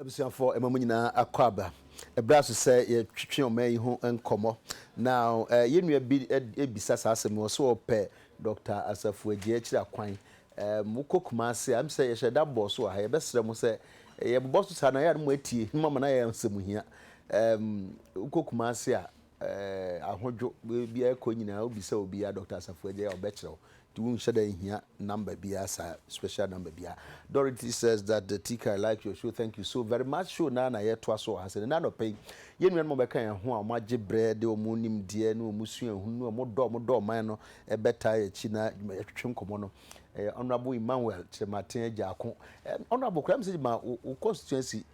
Abusuafoɔ, ɛma mo nyinaa akɔ aba. Ɛberɛ aso sɛ yɛtwetwe ɔman yi ho nkɔmmɔ. Now, eh, yɛn nua bi rebisa saa asɛm yi, ɔse ɔpɛ Doctor Asafu Adjei akyiri akwan. Eh, mo kɔ Kumasi a, ɛm sɛ yɛhyɛ da bɔɔ so wɔ ha, yɛbɛsrɛ mo sɛ, yɛbobɔ so saa no a, ɛyɛ a na mo atie, na mo ama no ayɛ asɛm hia. Eh, wo kɔ Kumasi a, eh, ahodwo, baabiara kɔ nyinaa wobisa obiara Dr. Asafo Agya a ɔbɛkyerɛ wo. Nti wonhyɛ da nhia number biara saa, special number biara. Dorothy says that the TK I like your show, thank you so very much. Show naa na yɛtoa so wɔ ha sɛ ne anɔpa yi. Yɛn nuanom bɛka yɛn ho a wɔn agye brɛ de wɔn nimdeɛ ne wɔn suahunu ne wɔn dɔ a wɔn dɔ ɔman no ɛbɛtaa yɛn akyi na dwuma yɛtwetwe nkɔmɔ no. Ɛyɛ Honourable Emmanuel Kyerematen Agya Ako. Ɛm, Honourable, kora mi sɛ ma wo constituency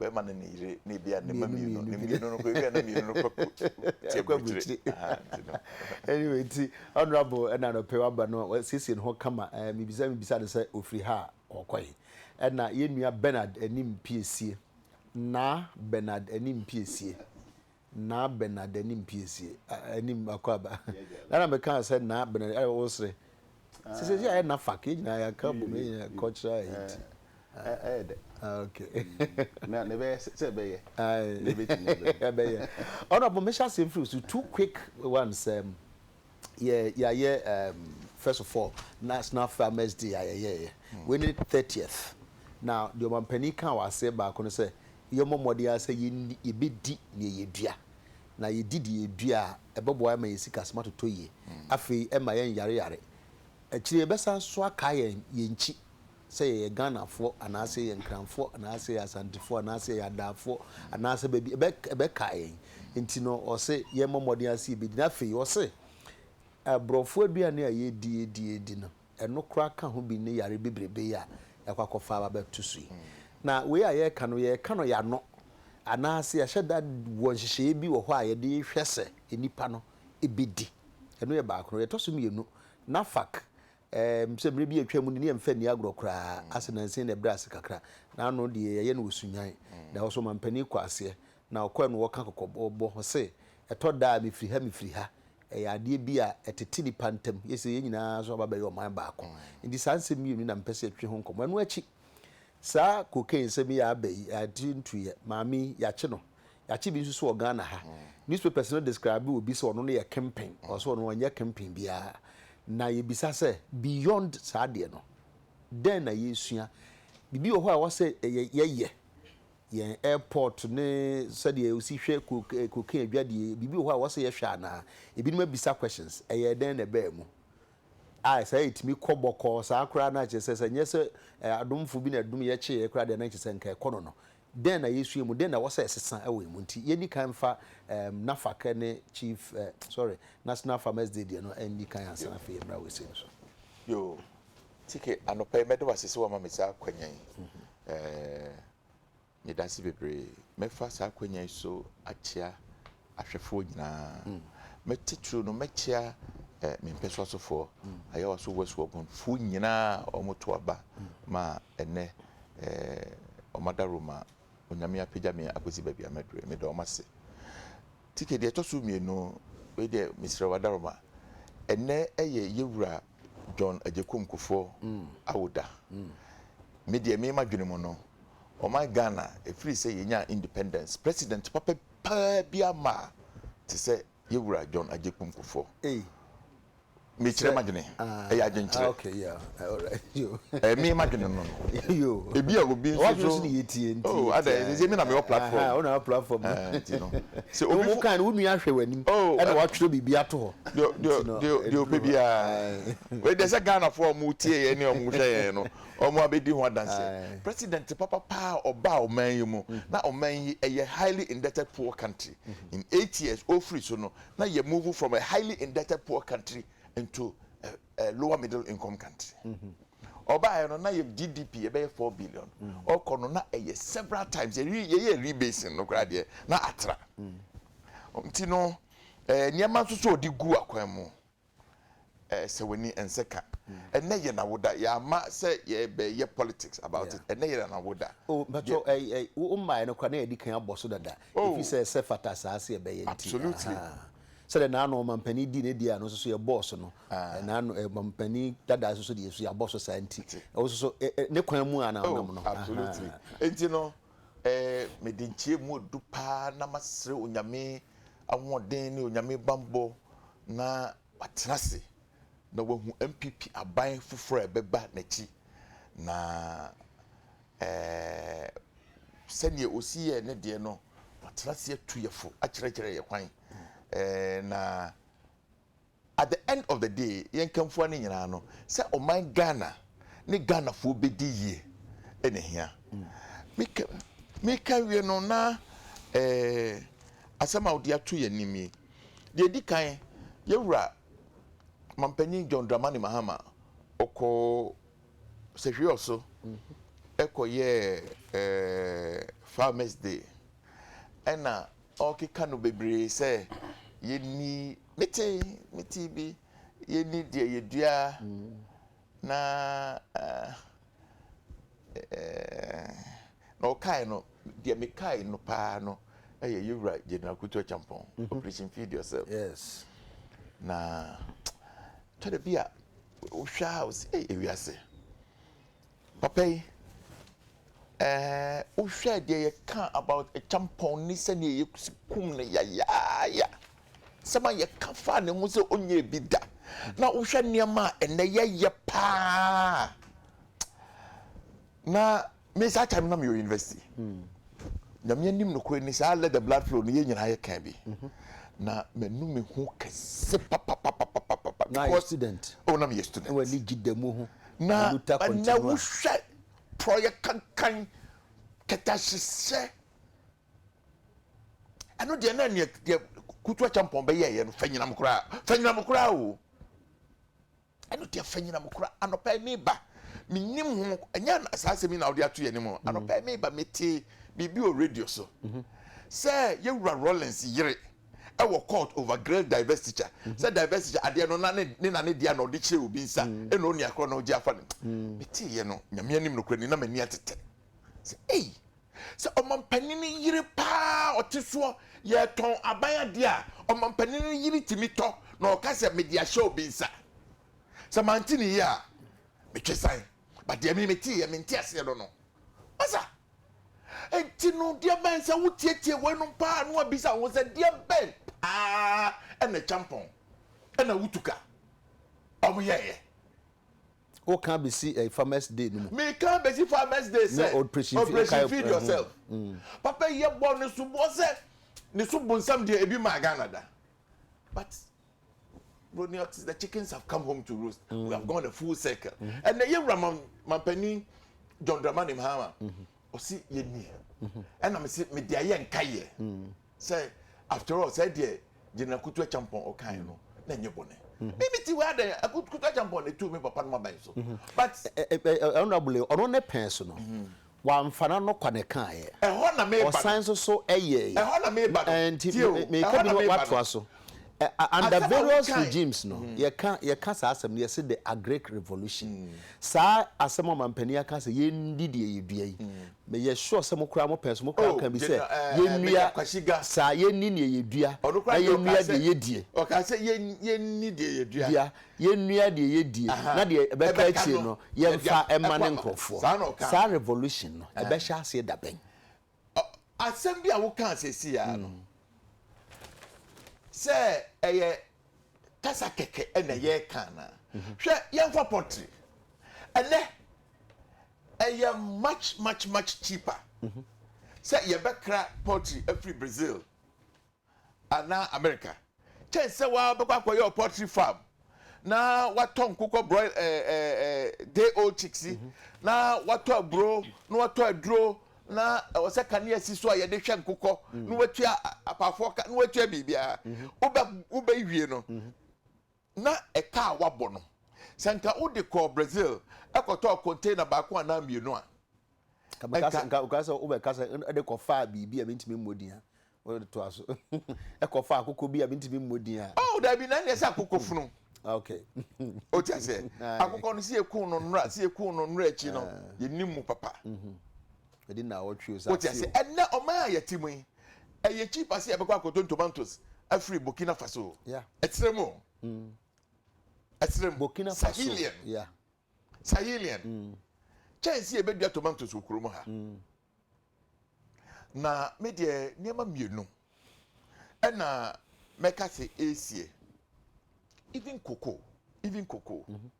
bɛrima ne ne yere ne ebia ne mma mmienu ne mmienu no kɔ ebia na mmienu no kɔ tie aburukyire anyway nti honorable ɛna nɔpɛ waba no wasiesie ne ho kama ɛɛ mibisa mibisa ne sɛ ofiri ha a ɔkɔe ɛna yɛn nua Bernard anim piesie na Bernard anim piesie Naa Bernard anim piesie ah anim akɔ aba na na me kaa sɛ Naa Bernard ayɛ wo sere sɛ sɛ ayɛ na fak yɛ nyinaa yɛ aka bom yɛ nyinaa cultural ayi ti ɛyɛ dɛ ok na na ɛbɛyɛ sɛ ɛbɛyɛ na ɛbɛtumi abɛyɛ ɛbɛyɛ ɔna bɔ mehyɛ aseɛ mfiri so two quick ones um, yɛ yɛayɛ um, first of all national farmers day a yɛyɛɛyɛ wei ne 30th na deɛ ɔmampanin kaa wɔ aseɛ baako no sɛ yɛmmɔ mmɔden ara sɛ yenni, yebedi nea yedua. Na yedi deɛ yedua a, ɛbɛboa ma yɛn sikasɛm atotɔ yie. Afei ɛremma yɛnnyareyare. Akyire yi yɛbɛsan nso akae yɛn yɛn nkyi sɛ yɛyɛ Ghanafoɔ anaasɛ yɛyɛ Nkranfoɔ anaasɛ yɛyɛ Asantefoɔ anaasɛ yɛyɛ Adaafoɔ anaasɛ baabi, ɛbɛ, ɛbɛkae yɛn. Enti no, ɔse yɛmmɔ mmɔden ara sɛ yebedi. Na afei ɔse, Aborɔfo aduane a yedi, yedi, yedi no, ɛno koraa ka ho bi ne yare bebrebe yi a yɛakɔ akɔfa aba abɛto so yi. Na wei a yɛreka no, yɛreka no yɛano, anaasɛ yɛahyɛ da wɔ nhyehyɛeɛ bi wɔ hɔ a yɛde hwɛ sɛ nnipa no bɛdi. Ɛno yɛ baako. Na deɛ ɛtɔ so mmienu, NAFAC, ɛɛm, sɛ mmerɛ bi a atwa mu no, ne yɛmfa nni agorɔ koraa, ase nansa yi na ɛbrɛɛ ase kakra. Na ano deɛ yɛyɛ no wɔ Sunyani. Na ɛhɔ nso ɔmampanin kɔɔ aseɛ Na ɔkɔɛ no wɔka kɔkɔbɔ bɔ ho se, Ɛtɔ da a mefiri ha mefiri ha. Ɛyɛ adeɛ bi a ɛtete nnipa ntam. Yɛ sɛ yɛn nyinaa nso aba abɛyɛ ɔman baako. Enti saa nsɛm mmienu yi na mepɛ sɛ yɛtwe ho nkɔmmɔ. Ɛno akyi, saa cocaine nsɛm yi a aba yi, yɛagye ntuiɛ. Maame yi, yɛakye no. Yɛakye bi nso so wɔ Ghana ha. Newspapers no describe obi sɛ ɔno no yɛ kempen. Ɔse ɔno ɔnyɛ kempen biara. Na yɛbisa sɛ, beyond saa adeɛ no, dɛn na yɛresua? Biribi wɔ hɔ a ɛwɔ sɛ yɛyɛ? Yɛn airport ne sɛdeɛ osi hwɛ cocaine adwadie biribi wɔ hɔ a wɔsɛ yɛhwɛ anaa? Ebinom abisa questions ɛyɛɛ dɛn na ɛbaa mu? a saa ɛtumi kɔ bɔkɔɔ saa koraa na kyerɛ sɛ sɛ nyɛ sɛ adomfo bi na ɛdom yɛ kye yɛ koraa deɛ na kyerɛ sɛ nka ɛkɔ no no dɛn na yɛsua mu dɛn na wɔsɛ ɛsesa ɛwɔ yɛn mu nti yɛnni kan mfa um, NAFAC ne chief uh, sorry National Farmers Day deɛ no ɛnni kan ansa na afei yɛmmra wɔ ɛsei no so. Yoo. TK, anɔpa yi, mɛda wo ase sɛ woama me saa akwanya yi. Meda ase bebree. Mɛfa saa akwanya yi so akyea ahwɛfoɔ nyinaa. Me titiriw no, mɛkyea me mpɛso asofoɔ, Ayawa so West Wuabonfoɔ nyinaa a wɔto aba ma ɛnɛ wɔn adaro ma Onyame apagya me akɔsi baabi a mɛdurɛ. Meda wɔn ase. TK, deɛ ɛtɔ so mmienu, wei deɛ mesrɛ wo adaro ma. Ɛnɛ yɛ yɛwura John Agyekum Kufour awo da. Me deɛ me m'adwene mu no, ɔman Ghana ɛfiri sɛ yɛnyaa independence, president papa paa biara mmaa te sɛ yɛ wura John Agyekum Kufour. Mekyerɛ m'adwene, ɛyɛ adwenkyerɛ. Ɛyɛ me m'adwene no no. Ebia obi nso so, oh adɛn, sɛsɛ me na mewɔ platform. Nti no, sɛ obi fo. Oh, deɛ ɔpɛ biara wei deɛ sɛ ghanafoɔ a ɔmo tie yɛn ne ɔmo hwɛ yɛn no ɔmo abɛdi ho adanseɛ president papa paa ɔbaa ɔman yi mu mm. na ɔman yi ɛyɛ highly indebted poor country mm. in eight years ofiri so no na yɛ move from a highly indebted poor country into a, a lower middle income country. Mm -hmm ɔbaayɛ no na yɛ gdp yɛbɛyɛ four billion mm. ɔkɔ no na ɛyɛ several times yɛyɛ rebasing no koraa deɛ na atra mm. nti no Ɛɛ nneɛma nso so a ɔde gu akwan mu. Ɛɛ sɛ w'ani ɛnsɛ ka. Ɛnɛ yɛ n'awoda. Yɛama sɛ yɛbɛyɛ politics about it. Ɛnɛ yɛ n'awoda. Oh mpakyɛw ɛɛ ɛɛ wo mmaeɛ no koraa na yɛadi kan abɔ so dada. Oh. Efi sɛ ɛsɛ fata saa sɛ yɛbɛyɛ nti. Absolutely. Ahaa. Sɛdeɛ n'ano ɔmampanin dii ne deɛ ano nso so yɛbɔɔ so no. Ah. N'ano ɛɛ ɔmampanin dada nso so deɛ nso yɛabɔ so saa nti. Ɛte. Wo nso so ɛ ɛ ne kwan mu a na wonam no. Oh absolutely. Ahaa. Nti no Ɛɛ, mede nkyerɛmu a ɛdu paa na masrɛ Onyame ahoɔden ne Onyame bammɔ na watena ase na wahu NPP aban foforɔ a ɛbɛba n'akyi na ɛɛ sɛdeɛ ɔsi yɛɛ ne deɛ no, watena ase atu yɛfo akyerɛkyerɛ yɛ kwan ɛɛ na At the end of the day yɛn kanfua no nyinaa no sɛ ɔman Ghana ne Ghanafoɔ bɛdi yie na ɛhia. Meka wie no na asɛm a wode ato yɛn anim yi, deɛ ɛdi kan yɛwura Mampanyin John Dramani Mahama ɔkɔ sɛhwee ɔso ɛkɔyɛɛ Farmers Day ɛna Ɔrekeka no bebree sɛ yɛnni, mete, mete bi, yɛnni deɛ yɛdua na na ɔkae no, deɛ mekae no paa no ɛyɛ yɛwura General Kutu Achampɔn, mhm. Operation Feed Yourself. Yes. Na kyɛdɛ bi a wohwɛ a wosi ɛyɛ wiase. Papa yi, eh, wo hwɛ deɛ yɛ ka about Akyampɔn ne sɛdeɛ yɛ kum no yayaaya. Sɛm a yɛ ka faa ne ho sɛ ɔnyɛɛ bi da. Na wo hwɛ nneɛma a ɛnɛ yɛ yɛ paa. Na me saa time na me wɔ university. Mm. Nyame anim nokorɛ ni saa let the blood flow no yɛ nyinaa yɛ kan bi. Mm-hmm. Na manu me ho kɛse papapapapapa. Na yɛ student. Oh, na me yɛ student. Wɔ ni gyi da mu ho. Na ɛnnɛ wohwɛ porɔeɛ kankan, kɛtɛhyehyɛ, ɛno deɛ na neɛ deɛ kutu akyɛmpɔn bɛyɛɛyɛ no fanyinam koraa fanyinam koraa o ɛno deɛ fanyinam koraa anɔpa yi meba menim ho ɛnyɛ saa asɛm yi na wode ato yɛ anim mm. anɔpa yi meba metee biribi wɔ radio so mm-hmm. sɛ yɛwura rollins yere wɔ court over girls divestiture sɛ divestiture adeɛ no na ne na ne deɛ na ɔde kyerɛ obi nsa ɛna ɔni akorɔ na ɔgye afa ne meteeɛ no nyame anim no kora ni na m'ani atete sɛ ei sɛ ɔmampanin yere paa ɔte soɔ yɛtɔn aban adeɛ a ɔmampanin yere tumi tɔ na ɔka sɛ mede ahyɛ obi nsa sɛ mante ne yie a metwe san but deɛ me metee yɛ mente aseɛ no no masa enti no deɛ bɛn sɛ wotietie wɔnom paa no abisa wo sɛ deɛ bɛn paa ɛna kyampɔn ɛna wotuka ɔmo yɛɛyɛ o kan besi eh, farmers day no mu. mi kan besi farmers day sɛ operation feed yourself mm. papa yi yɛ bɔ ne so bɔ sɛ ne so bonsam deɛ ebi maa ghana da. but broni ɔte the chickens have come home to roost mm. we have gone a full circle mm-hmm. ɛnna yɛ wura mampanin john dramani mahama mm-hmm. ɔsi yɛ ni mm-hmm. ɛnna mi si mi di ayɛ nka yɛ mm. sɛ after all sɛ deɛ gyina kutu ɛkyampɔn ɔkan no na nye bɔnɛ bibi ti wa dɛ kutu ɛkyampɔn na etu mi papa no ma bɛn so but ɛnna abule ɔno ne pɛn so no Wamfa n'ano kɔ ne kaeɛ. Ɛhɔ na meba no. Ɔsan nso so yɛeɛ. Ɛhɔ na meba no. Nti Tie o, meka ɛhɔ bi na no meba no. watoa so. Ɛ ɛ under Asɛm a various wokae. regimes no, yɛka yɛka saa asɛm no yɛse the agric revolution. Saa asɛm a ɔmampanin aka sɛ yɛndi deɛ yɛdua yi, meyɛ sure sɛ mo koraa mo pɛn so mo koraa Oh, aka bi sɛ General, eh, eh, yɛnnua Major Kwasiga. saa, yɛnni deɛ yɛdua Ɔno koraa na deɛ ɔkaa yɛnnua sɛ, deɛ yɛdie. ɔkaa sɛ yɛn, yɛnni deɛ yɛdua. dua. Yɛnnua deɛ yɛdie na deɛ ɛbɛka akyire no yɛmfa mmane nkorɔfoɔ. Saa revolution no ɛbɛhyɛ aseɛ dabɛn? Asɛm bi a wokaa seesei ara no sɛ ɛyɛ kasa kɛkɛ ɛna yɛreka anaa? Mm-hmm. Hwɛ yɛmfa pottery ɛnɛ ɛyɛ much much much cheaper mm-hmm. sɛ yɛbɛkra pottery afiri Brazil anaa Amerika kyɛn sɛ wabɛkɔ akɔyɛ ɔpɔltri farm na watɔ nkokɔ broil ɛɛ ɛɛ ɛɛ day old chicks yi na watɔ aburo na watɔ aduro na ɛwɔ sɛ kanea si so a yɛde hwɛ nkokɔ na watua apaafoɔ ka na watua biribiara wobɛ wobɛwie no na ɛka a woabɔ no, sɛ anka wode kɔɔ Brazil kɔtɔɔ container baako anaa mmienu a, anka. Nka wokaa sɛ wobɛka sɛ ɛde kɔfaa biribi a mentumi mmɔ din a, wode toa so. Ɛkɔfaa akokɔ bi a mentumi mmɔ din a. Oh, dabi, na ɛnneɛ sɛ akokɔ funu. Okay. Wote aseɛ? Akokɔ no, sɛ yɛkuu no nnora, sɛ yɛkuu no nnora akyi no, yɛnim mu papa. Ɛdi nnaawɔtwe o, sɛ afe o. Wote aseɛ? Ɛnnɛ, ɔman a yɛte mu yi. Ɛyɛ cheap ase a ɛbɛkɔ akɔtɔn tomatoes afiri Burkina Faso. Yeah. Ɛkyerɛ mu. Mm. Ɛkyerɛ mu. Burkina Faso. Sahelian. Yeah. Sahelian. Mm. Kyɛnse a ɛbɛdua tomatoes wɔ kurom ha. Mm. Na me deɛ nneɛma mmienu ɛna mɛka se ɛresie. Even cocoa. Even cocoa. Mm -hmm.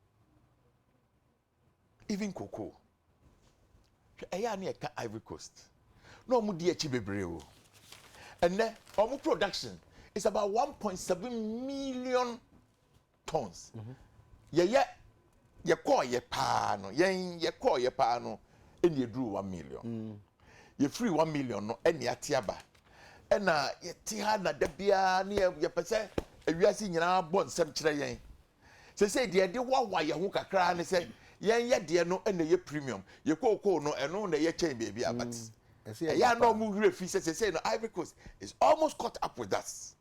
Even cocoa. Hwɛ ɛyɛ a na yɛka Ivory Coast. Na wɔn di akyi bebree o. Ɛnɛ wɔn production is about one point seven million tons. Mm -hmm. Yɛyɛ yɛkɔɔ yɛ paa no yɛn yɛkɔɔ yɛ paa no ɛna eduru one million. Mm. Yɛfiri one million no ɛna ate aba. Ɛna yɛte ha na da biara ne yɛpɛ sɛ ewiase nyinaa bɔ nsɛm kyerɛ yɛn. Seesei deɛ ɛde hoahoa yɛn ho kakra ara ne sɛ yɛn yɛdeɛ no na ɛyɛ premium. Yɛn kookoo no, ɛno na ɛyɛ kyɛn baabi a. But ɛyɛ a na wɔn werɛ fi sɛ seesei no Ivory Coast is almost caught up with us.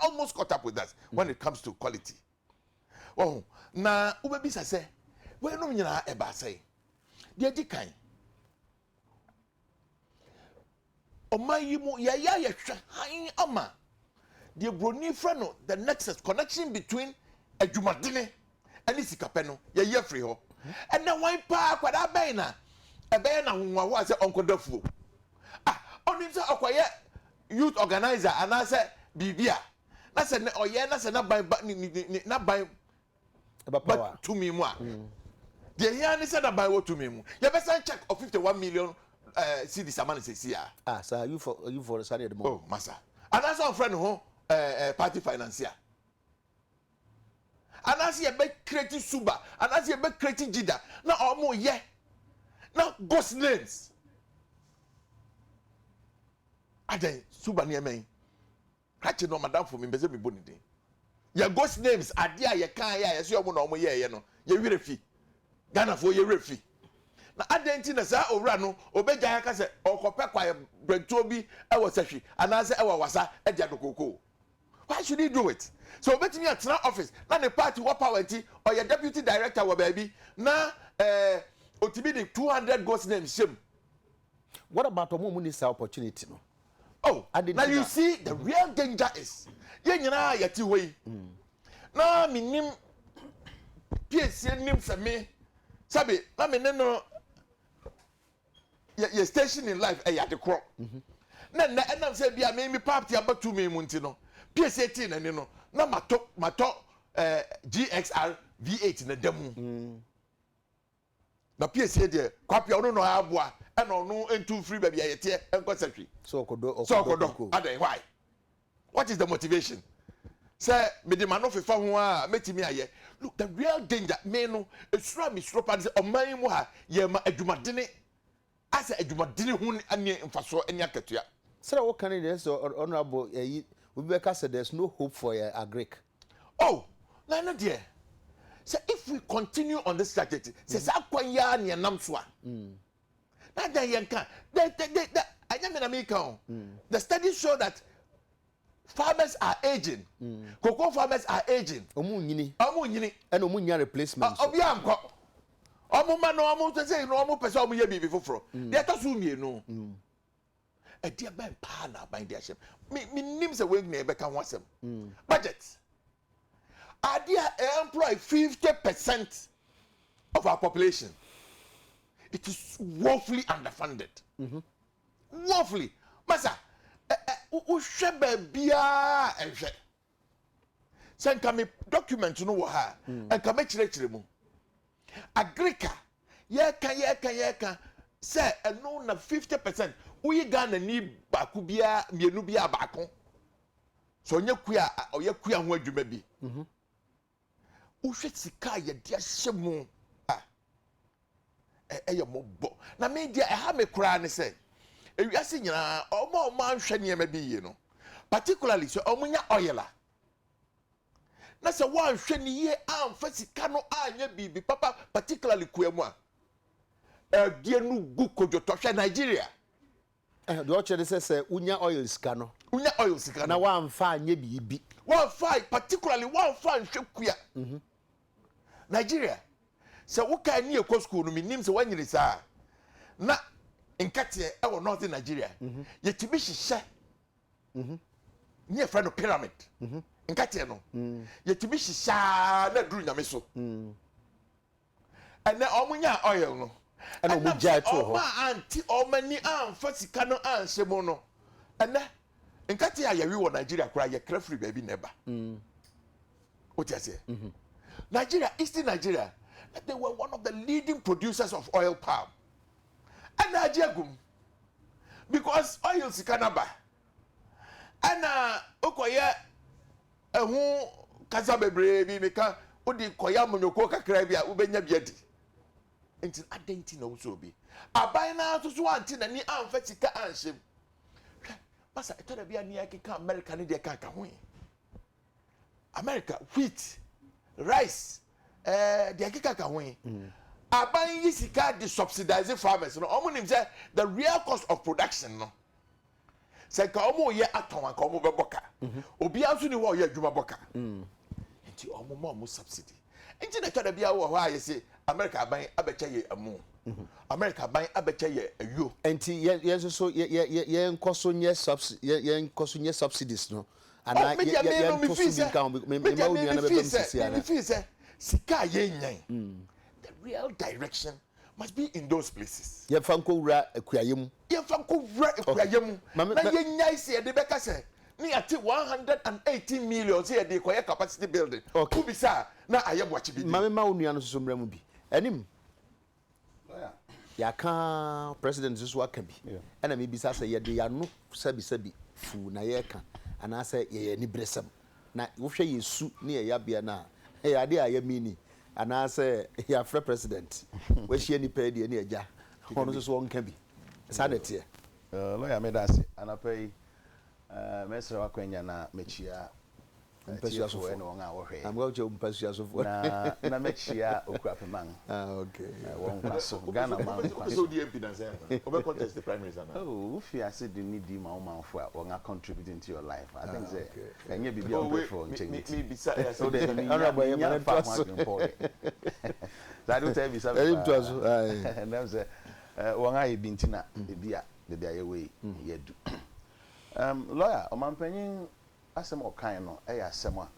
Almost caught up with us when it comes to quality. Wahu? Na wobɛbisa sɛ, Weinom nyinaa ɛbaa sɛn? Deɛ ɛdi kan, Ɔman yi mu, yɛayɛ a yɛhwɛ hann ama deɛ buroni frɛ no the nexus, connection between adwumadene ne sikapɛ no, yɛayi afiri hɔ. Ɛnna wan paa akwadaa bɛn na ɛbɛyɛ no ahohoahoa sɛ ɔnkɔdɔ afuo? Ah, ɔnim sɛ ɔkɔyɛ youth organizer anaasɛ biribi a, na sɛ ɔyɛ na sɛ n'aban ba, n'aban ba tumi mu a deɛ hia ne sɛ na ban wɔ tumi mu yɛbɛsan check of fifty one million ɛɛ eh, cedis ama no sɛsi a. ah saa yufo yufo no saa deɛ de mɔ. oh masa anaasɛ ɔnfrɛ ne ho ɛɛ eh, ɛɛ eh, party financier anaasɛ yɛbɛ kireti suba anaasɛ yɛbɛ kireti jida na ɔmo yɛ na ghost names adɛn suba nneɛma yi. Ka kyerɛ no madamfo mempɛ sɛ mebɔ ne din. Yɛ ghost names adeɛ a yɛkaeɛ a yɛse ɔmo na ɔmo yɛeɛ no yɛ werɛ fi. Ghanafoɔ yɛ werɛ fi. Na adɛn nti na saa owura no ɔbɛgyae aka sɛ ɔrekɔpɛ kwaeɛ bɛntoɔ bi wɔ sahwi anaasɛ ɛwɔ awasa de adokookoo? Why should he do it? Sɛ ɔbɛtumi atena office na ne party wɔ power nti ɔyɛ deputy director wɔ baabi na ɛɛ ɔtumi de two hundred ghost names hyɛ mu. What about ɔmo a ɔmo nni saa opportunity no? Oh, Adɛn na nti you na- see the Mhm. real danger is yɛn nyinaa a yɛte hɔ yi na menim piesie nim sɛ me sɛbe na me ne no yɛ yɛ station in life ɛyɛ ade korɔ na nnɛ ɛnam sɛ bi a me me paapti abɛto me mu nti no piesie tee n'ani no na matɔ matɔ eh, gxr v8 na da mu Na piesie deɛ, Kwapea ɔno na ɔyɛ aboa ɛna ɔno ntu mfiri baabi a yɛteɛ nkɔ sɛ hwe. Sɛ ɔkɔdɔ ɔkɔdɔ kuku. Sɛ ɔkɔdɔ adɛn why? What is the motivation? Sɛ mede m'ano fefa ho a mɛtumi ayɛ. Look the real danger me no esuro a mesuro paa ne sɛ ɔman yi mu ha yɛma adwumadene Asa adwumadene ho ne mfasoɔ ne akatua. Sɛdeɛ wo ka no deɛ sɛ honourable ɛyi obi bɛka sɛ there's no hope for yɛ agric. Oh na ɛno deɛ sɛ if we continue on this trajectory sɛ saa kwan yi ara na yɛnam so a na adɛn yɛnka the the the the ɛnyɛ me na meka o the studies show that farmers are aging mm. cocoa farmers are aging ɔmo nyini ɔmo nyini ɛna ɔmo nya replacement ɔbi ankɔ ɔmo ma no ɔmo sɛ sɛ no ɔmo pɛ sɛ ɔmo yɛ biribi foforɔ mm. deɛ ɛtɔ so mmienu mm. ɛdeɛ bɛn paa na aban de ahyɛm me me nim sɛ wɔn nyinaa bɛka ho asɛm mm. budget adeɛ a ɛ employ fifty percent of our population it is woefully underfunded. Mm -hmm. Woefully masa ɛ ɛ wo hwɛ baabiara a nhwɛ. Sɛ nka me document no wɔ ha a, hmm. nka mɛkyerɛkyerɛ mu. Agrika yɛka yɛka yɛka sɛ ɛno na 50 percent woyi Ghana ni baako biara mmienu biara baako. Sɛ ɔnyɛ kua a ɔyɛ kua ho adwuma bi. Mm -hmm. Wohwɛ sika a yɛde ahyɛ mu a, ɛyɛ mmɔbɔ. Na me deɛ ɛha me koraa ne sɛ, ewiase nyinaa, wɔn a wɔanhwɛ nneɛma bi yie no, particularly sɛ wɔnya oil a, na sɛ wɔanhwɛ no yie amfa sika no anyɛ biribi papa, particularly kua mu a, ɛdeɛ no gu kodwotɔ. Hwɛ Nigeria. Ɛhɛ, deɛ ɔkyerɛ ne sɛ sɛ wonya oil sika no. Wonya oil sika no. Na woamfa anyɛ biribi. Woamfa, particularly woamfa anhwɛ kua. Nigeria, sɛ wo kaa ni ɛkɔ school no, mennim sɛ woanyini saa a, na nkɛteɛ ɛwɔ Northern Nigeria, yɛtumi hyehyɛ ne yɛfrɛ no pyramid, nkɛteɛ no, yɛtumi hyehyɛ ara na aduru Nyame so. Ɛnɛ wɔn nyaa oil no. Ɛna wɔn gyae too hɔ. Ɛnam sɛ wɔn a ante wɔn ani amfa sika no anhyɛ mu no, ɛnɛ nkate a yɛwe wɔ Nigeria koraa yɛkra firi baabi na ɛba. Wote aseɛ? Nigeria, Eastern Nigeria, na they were one of the leading producers of oil palm. Ɛna agye agum because oil sika no aba. Ɛna wokɔyɛ Ɛho kasa bebree bi meka, wode kɔyɛ amanyɔkuo kakra bi a wobɛnya bi adi. Nti adɛn nti na wosɔ obi? Aban no ara nso so ante n'ani amfa sika anhyɛ mu. Hwɛ, masa ɛtɔ da bi a ne yɛkeka Amerika ne deɛ kanka ho yi. Amerika, wheat, rice, eh, deɛ ɛkeka ka ho yi. Mm. Aban yi sika de subsidize farmers no. Wɔn nim sɛ the real cost of production no. sɛ nka wɔn reyɛ atɔn anka wɔn bɛbɔ ka mhm. obiara nso ni hɔ a ɔyɛ adwuma bɔ ka mm. nti wɔn ma wɔn subsidy nti na twɛda biara wɔ hɔ a yɛsɛ america aban abɛkyɛ yɛ ɛmu mhm. america aban abɛkyɛ yɛ ayuo. nti yɛn yɛn nso so yɛ yɛ yɛn nkɔ so nyɛ subsidy yɛn yɛn nkɔ so nyɛ subsidies no anaa oh, yɛ yɛ yɛn to so bi nka ho mɛ mɛ mɛ wo nua na bɛ bɛ mu sisi ara. sika a yɛn nyɛn mm. the real direction. Must be in those places. Yɛmfa nkɔwura akuayɛ mu. Yɛmfa nkɔwura akuayɛ mu. Na yɛnnyae sɛ yɛde bɛka sɛ ne yɛate one hundred and eighteen million sɛ yɛde rekɔyɛ capacity building. Wobisa a, na ayɛ boakye bi din. Ma memma wo nua no nso so mmra mu bi. Anim, yɛaka President nso so aka bi. Ɛna mebisa sɛ yɛde yɛn ano sabisabi fuu na yɛreka anaasɛ yɛyɛ aniberesɛm. Na wohwɛ yɛn su ne yɛn yɛabea no a, ɛyɛ adeɛ a yɛmini anaasɛ yɛafrɛ president, wahyia nnipa yi deɛ ne agya, ɔno nso so ɔnka bi. Saa na ɛteɛ. Lawyer meda ase. Anɔpa yi mɛsrɛ w'akwanya na mɛkyia atiefoɔ ne wɔn a wɔhwɛ yɛn. Na na mɛkyia Okuapemang wɔ nkwa so, Ghana man nkwa so. Wofii ase de nidi ma wo manfoɔ a wɔn a contribute into your life. I think sɛ ɛnyɛ biribi a ɔmpɛ for nkyɛn nti. Me bisa yɛ asɛm sɛ. Ɛna bɔ yɛ ma ne toa so. Saa de wotɛ yɛ bisa mi paa. Ɛnam sɛ wɔn a yɛ bi nti na ebi a baabi a yɛwɔ yi yɛ du. Lawyer ɔmanpanyin asɛm a ɔkae no ɛyɛ asɛm a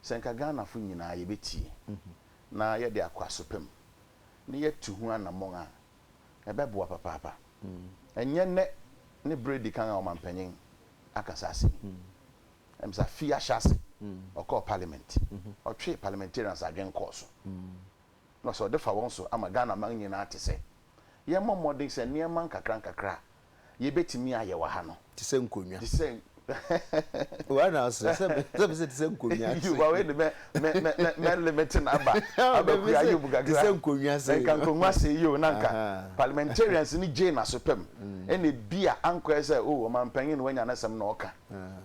sɛ nka Ghana fo nyinaa yɛbɛtie na yɛde akwaso pɛ mu na yɛtu ho anamɔn a ɛbɛboa papaapa. Ɛnyɛ nnɛ ne bere a edi kan a ɔmampanyin aka saa asɛm yi. Ɛyɛ sɛ afe yi ahyɛ ase, ɔkɔɔ parliament, ɔtwee parliamentarians adwene kɔɔ so, na ɔsɛ ɔde fa wɔn so ama Ghanaman nyinaa te sɛ yɛmmɔ mmɔden sɛ nneɛma nkakrankakra a yebetumi ayɛ wɔ ha no. Te sɛ nkonnwa. Te sɛ. Why na ɔsrɛ sɛ me sɛ me sɛ te sɛ nkonnwa se. Wa wei de mɛ mɛ mɛ mɛ mɛ limit na ba aba kua ayɛ mu kakra. Te sɛ nkonnwa se. Nka nkonnwa se yi o na nka parliamentarians ni gyee n'aso pɛm ɛna ebi a ankɔyɛ sɛ o ɔmanpanyin na wanya n'asɛm na ɔka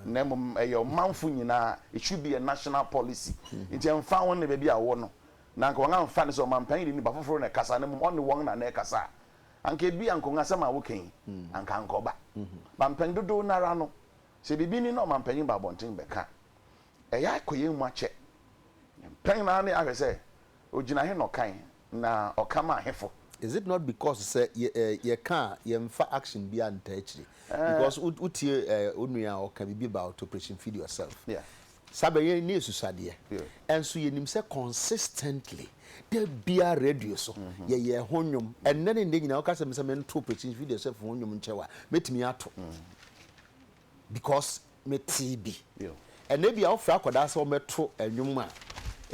na mmom ɛyɛ ɔmanfo nyinaa it should be a national policy nti ɛnfa ho ne baabi a ɔwɔ no na nka wɔn anfa ne sɛ ɔmanpanyin ni ba foforɔ na ɛkasa na mmom ɔne wɔn na na ɛkasa a Anka ebia nkongua-asɛm a woka yi, anka annkɔba. Ba mpɛn dodow no ara no, sɛ biribi ni na ɔmampanyin ba abɔnten bɛka a, ɛyɛ a ɛkɔ yɛn mu akyɛ. Mpɛn no ara no yɛahwɛ sɛ, ogyina he na ɔkae, na ɔka maa hefo? Is it not because sɛ yɛka a, yɛmfa action biara nntaa akyiri? Because wotie onua a ɔka biribi about operation feed yourself, Saa bɛ yɛn nni asusuadeɛ. Ɛnso yɛnim sɛ consistently, da biara radio so, yɛyɛ ɛho nnwom. Ɛnnɛ ne nnɛ nyinaa, woka sɛ me sɛ mentoɔ Prestige Video Chef ho nnwom nkyɛw a, mɛtumi ato. Because metee bi. Ɛnnɛ bi a wofrɛ akwadaa sɛ ɔmmɛto nnwom a,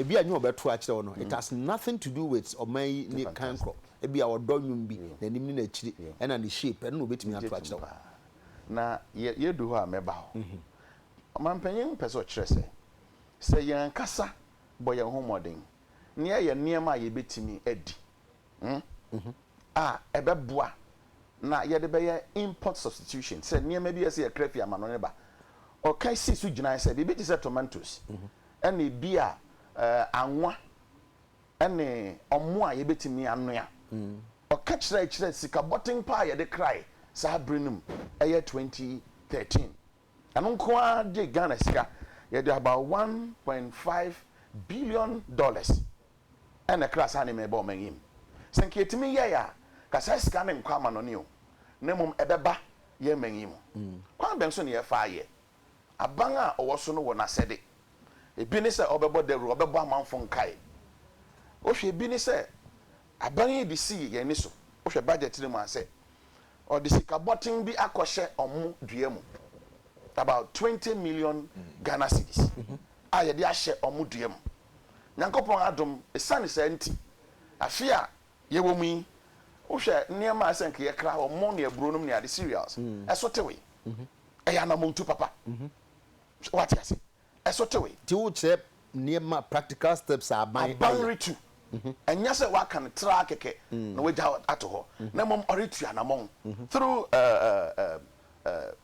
ebi a ɛnyɛ ɔbɛto akyerɛ wo no, it has nothing to do with ɔman yi ne kan korɔ. Ebi a ɔdɔ nnwom bi, n'anim ne n'akyiri, ɛna ne shape, ɛno na ɔbɛtumi ato akyerɛ wo. Na yɛdu hɔ a mɛba hɔ. Ɔmampanyin no pɛ sɛ ɔkyerɛ sɛ, sɛ yɛn ankasa bɔ yɛn ho mmɔden na yɛyɛ nneɛma a yebetumi adi a, ɛbɛboa na yɛde bɛyɛ import substitution, sɛ nneɛma bi a ɛsɛ sɛ yɛkra fi amanɔne ba. Ɔka sii so gyinae sɛ biribi te sɛ tomatoes ne ebia anwa ne ɔmo a yebetumi anoa. Ɔka kyerɛe kyerɛɛ sika bɔten paa a yɛde krae saa bere no mu, ɛyɛ 2013. Ɛno nko ara de Ghana sika yɛde about one point five billion dollars na ɛkra saa nneɛma yi baa ɔman yi mu. Sɛ nka yɛtumi yɛe a, nka saa sika no nkɔ amannɔne o, na mmom ɛbɛba yɛn man yi mu. Kwan bɛn so na yɛfa yɛ? Aban a ɔwɔ so no wɔ n'asɛde. Ebi ne sɛ ɔbɛbɔ dawuru, ɔbɛbɔ amanfo nkae. Wohwɛ ebi ne sɛ Aban yi de sii yɛn ani so. Wohwɛ budget no mu a sɛ ɔde sika bɔten bi akɔhyɛ wɔn dua mu, about twenty million Ghana cedis a yɛde ahyɛ wɔn dua mu. Nyankopɔn adom, esiane saa nti, afe a yɛwɔ mu yi, wohwɛ nneɛma a sɛ anka yɛkra, wɔn ne aburonom ne ade, cereals, ɛso tewee. Ɛyɛ anammɔntu papa. Woate ase? ɛso tewee. Nti wokyerɛ nneɛma practical steps a aban ayɛ. Aban retu. Ɛnyɛ sɛ waka no traa kɛkɛ na wagya ato hɔ, na mmom ɔretu anamɔn through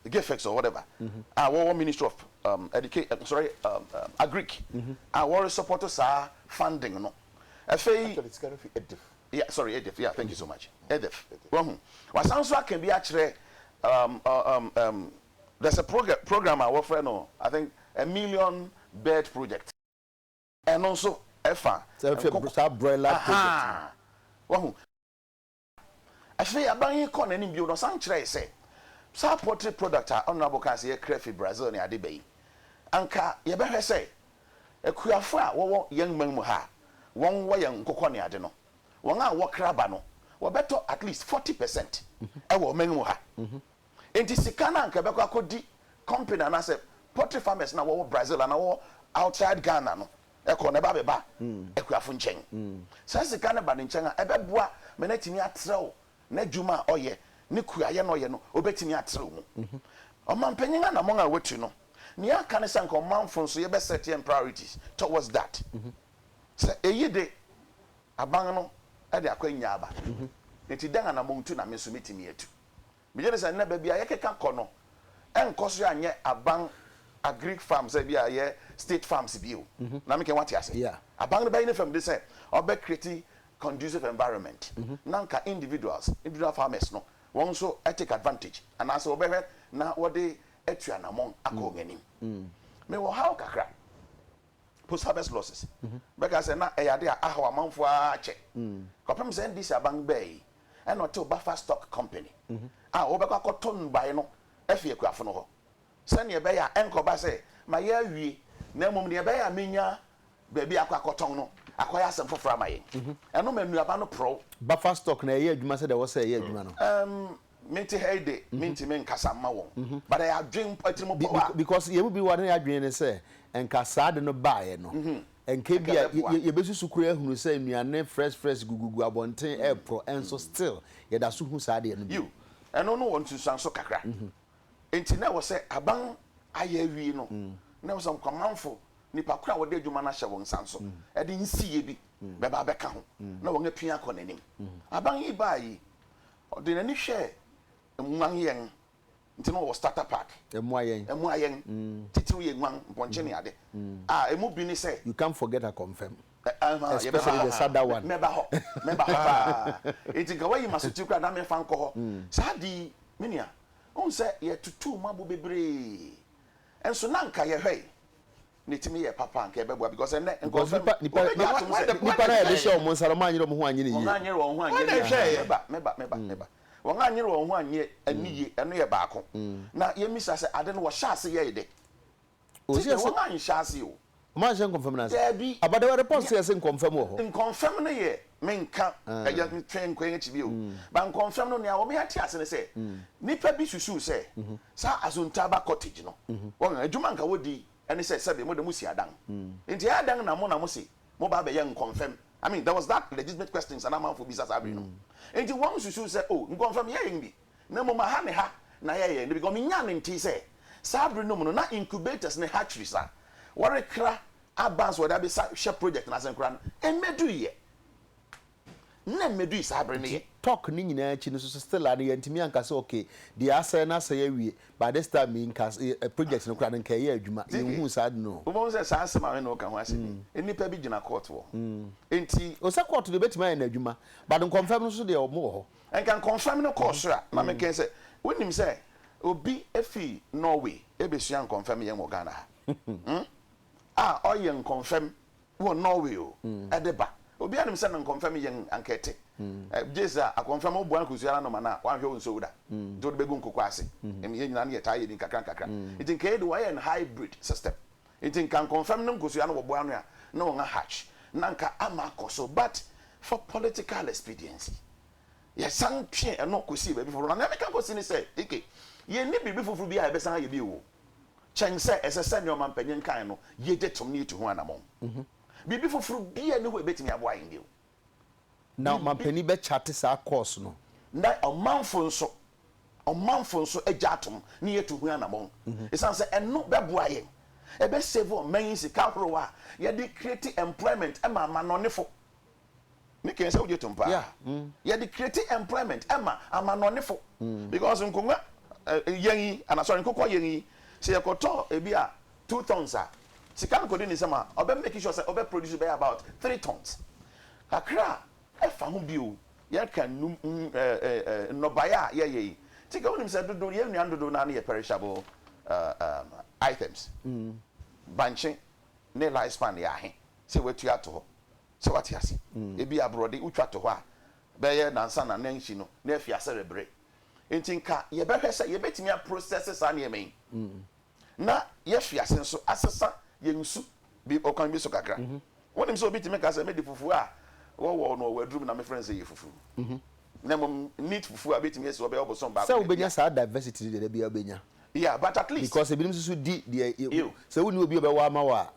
GIFEX or whatever a wɔwɔ Ministry of Education, sorry, Agric a wɔre support saa funding no. Afei. Actually sika no fi EDF. Yeah, sorry, EDF, yeah, thank you so much, EDF. Wahu? Wasan nso aka bi akyerɛ There's a program program a wɔfrɛ no I think a million bird project. Ɛno nso ɛfa nkoko. Saa broiler project no. Wahu. Afei aban yi kɔɔ n'anim bio na ɔsan kyerɛe sɛ saa poultry product a Honourable kaa sɛ yɛkra fi Brazil ne ade ba yi, anka yɛbɛhwɛ sɛ akuafo a wɔwɔ yɛn man mu ha a wɔwɔ yɛn nkokɔ ne ade no, wɔn a wɔkra ba no wɔbɛtɔ at least forty percent wɔ ɔman mu ha. Enti sika no a anka ɛbɛkɔ akɔdi company anaasɛ poultry farmers no a wɔwɔ Brazil anaa wɔwɔ outside Ghana no kɔ no, ɛba abɛba akuafo nkyɛn. Saa sika no ba ne nkyɛn a, ɛbɛboa ma no atumi atrɛw n'adwuma a ɔyɛ, ne kuayɛ no a ɔyɛ no, obetumi atrɛw mu. Ɔmampanyin anammɔn a watu no, nea aka ne sɛ anka ɔmanfo nso yɛbɛ set yɛn priorities towards that. Sɛ eyi de, aban no de akwannya aba. Enti dɛn anammɔntu na me nso metumi atu? Megye di sɛ nnɛ baabi a yɛkeka kɔ no nkɔ so anyɛ aban agric farm sɛ bi a ɛyɛ state farms bio. Na meka wate ase. Aban no bɛyɛ ne fam de sɛ ɔbɛ create conducive environment na anka individuals, individual farmers no wɔn nso take advantage anaasɛ wɔbɛhwɛ na wɔde atu anammɔn akɔ wɔn anim. Mewɔ haw kakra. post-harvest-losses, bɛka sɛ na ɛyɛ ade a ahaw amanfoɔ ara akyɛ kɔpem sɛ NDC aban bɛɛ yi ɛna ɔtew Bafa Stock Company a wɔbɛkɔ akɔtɔ nnubaeɛ no afi akuafo no hɔ sɛdeɛ ɛbɛyɛ a ɛnkɔba sɛ mayɛ awie na mmom deɛ ɛbɛyɛ a menya baabi akɔ akɔtɔn no akɔyɛ asɛm foforɔ ama yɛn. Ɛno ma nnuaba no porɔw. Bafa Stock no ɛyɛ adwuma sɛdeɛ ɛwɔ sɛ ɛyɛ adwuma no? Ɛm, Mete ha yi de, mintumi nkasa mma wɔn, but ɛyɛ adwene mpo, atirimpɔw a. Because yɛn mu bi wɔ hɔ a na y'adwene ne sɛ nka saa ade no baeɛ no, nka ebia yɛbɛsusu koraa ahunu sɛ nnuane fresh fresh gugugu abɔnten reporɔ, nso still yɛda so hu saa adeɛ no bi. Yiw, ɛno no wɔ nsunsuanso kakra. Enti na ɛwɔ sɛ aban ayɛ awie no, na ɛwɔ sɛ Nkwamanfo, nnipa koro a wɔde adwuma no ahyɛ wɔn nsa nso, de nsiyɛ bi bɛba abɛka ho, na wɔapia akɔ n'anim. Aban yi bae yi, Ɔde n'ani hwɛɛ nguan yɛn nti na ɔwɔ starter pack. Ɛmmoa yɛn. Ɛmmoa yɛn. Titiriw yɛn nguan, mpɔnkye ne ade. A emu bi ne sɛ. You can't forget Akɔmfɛm. Ɛhã, yɛbɛba hɔ ha. Mɛba hɔ. Mɛba hɔ paa. Enti nka woayi m'asotir koraa na memfa nkɔ hɔ. Saa de yi, me nua, wohu sɛ yɛtutuu mmɔabo bebree. Nso na anka yɛhwɛe. ne timi yɛ papa anka ɛbɛboa because ɛnɛ nkurɔfoɔ nipa nipa wobɛgye na atom sɛ nipa no a yɛde hyɛ wɔn nsa no wɔn anyere wɔn ho anyɛ ne yie wɔn anyere wɔn ho anyɛ ne yie meba meba meba meba wɔn anyere wɔn ho anyɛ ne yie ɛno yɛ baako na yɛmisa sɛ ade no wɔhyɛ ase yɛe dɛ ti deɛ wɔn anhyɛ ase o wɔn anhyɛ nkɔmfam no ase daabi abadawari pɔs yɛ se nkɔmfam wɔ hɔ nkɔmfam no yɛ menka agya ntwe nkɔ yɛn akyi bio ba nkɔmfɛm no nea wɔn ate ase ne sɛ nipa bi susuw sɛ saa asuntaaba cottage no wɔn adwuma nka wɔdi ɛne sɛ sɛbi mo de mo si adan nti ɛyɛ adan na mo na mo se mo ba abɛyɛ nkɔmfɛm I mean there was that legitimate questions ana amanfo bisa saa bere no nti wɔn susuw sɛ oh nkɔmfɛm yɛ yɛn bi na mmom aha ne ha na yɛ yɛn de because wɔn nyaa ne ntee sɛ saa bere no mu no na incubators ne hatcheries a wɔrekra Advance a wɔde abesa hwɛ project no ase no koraa no, ɛmmɛdui ɛ. Nna mmɛdui saa bere no Nti ɛ. talk no nyinaa akyi no nso still a no yɛantumi anka sɛ ok, deɛ asɛe no asɛe awie, by this time yi nka ɛ project no koraa no nka ɛyɛ adwuma. Ziggy, Yɛnhuu saa ade no o. wobɛhu sɛ saa asɛm a me ne wo ka ho asɛm yi, nnipa bi gyina court wɔ ho. Enti. O, sɛ court deɛ ɛbɛtumi ayɛ no adwuma, but nkɔmfɛm no nso deɛ wɔn wɔ hɔ. Nka nkɔmfɛm no kɔɔ soro a, na mekae sɛ, wonim sɛ obi fi Norway rebɛsua nkɔmfɛm yɛn wɔ Ghana ha? Hmmm. a ɔyɛ nkɔmfɛm wɔ Norway o ɛde ba. Obiara nim sɛ na nkɔmfɛm yɛn anka ɛte. Gye sɛ akɔmfɛm wo boa akosua no anom anaa wanhwɛ wo nsow da nti wode bɛgu nkokɔ ase. Ɛm yɛn nyinaa no yɛtaa yɛ bi nkakra nkakra. Nti nka yei de wɔayɛ no hybrid system. Nti nka nkɔmfɛm no nkosua no wɔ boa no a na wɔn ahatch na anka ama akɔ so but for political expediency yɛsan twee ɛno kɔsii baabi foforɔ. Na nea meka kɔsi ne sɛ, Ike, yɛnni biribi foforɔ biara a yɛbɛsan ayɛ bio o. kyɛn sɛ ɛsɛ sɛ nea ɔmampanyin kae no ye gye tom na yetu ho anammɔn. Biribi foforo biara nni hɔ a ebetumi aboa yɛn bio. Ná ɔmampanyin bɛkyate saa kɔɔso no. Ná ɔmanfo nso, ɔmanfo nso gye atom na yetu ho anammɔn, esiane sɛ ɛno bɛboa yɛn. Ɛbɛsave ɔman yi sika horow a yɛde create employment ma amannɔnefo. Me kɛn sɛ wogye tom paa. Yeah. Mm. Yɛde create employment ɛma amanɔnefo. Mm. Because nkonnwa eh, yɛn yi, ana sorry, nkokɔ yɛn yi, sɛ yɛkɔtɔ ebi a two tons a, sika no kɔdi ne nsam a, ɔbɛ make sure sɛ ɔbɛ produce bɛyɛ about three tons. Kakra a ɛfa ho bio, yɛka nnum mm, eh, eh, eh, nnɔbaeɛ a yɛyɛ yi. Nti ka wonim sɛ dodo, yɛn nnuan dodo no ara no yɛ perishable uh, um, items. Mm. Bankye. ne life span yɛ ahe sɛ watua ato hɔ. Sɛ wate ase? Ebi a borɔde wotwa to hɔ a, bɛyɛ nansa na nansi no na afi ase rebre. Enti nka yɛbɛhwɛ sɛ yɛbɛtumi a process saa nneɛma yi na yɛafi ase nso asesa yɛn nsu bi ɔkwan bi so kakra. Wonim sɛ obi tumi ka sɛ mede fufuo a wɔwɔɔ no ɔwɔ aduru mu na mefrɛ no sɛ ɛyɛ fufuo. Na mmom neat fufuo a bɛtumi asi hɔ bɛyɛ ɔbosom baako. Sɛ wobɛnya saa diversity no deɛ da biara wobɛnya. Yeah, but at least. Because ebinom nso so di deɛ yɛ. Ew. Sɛ wonni obi a ɔbɛwɔ ama wo a,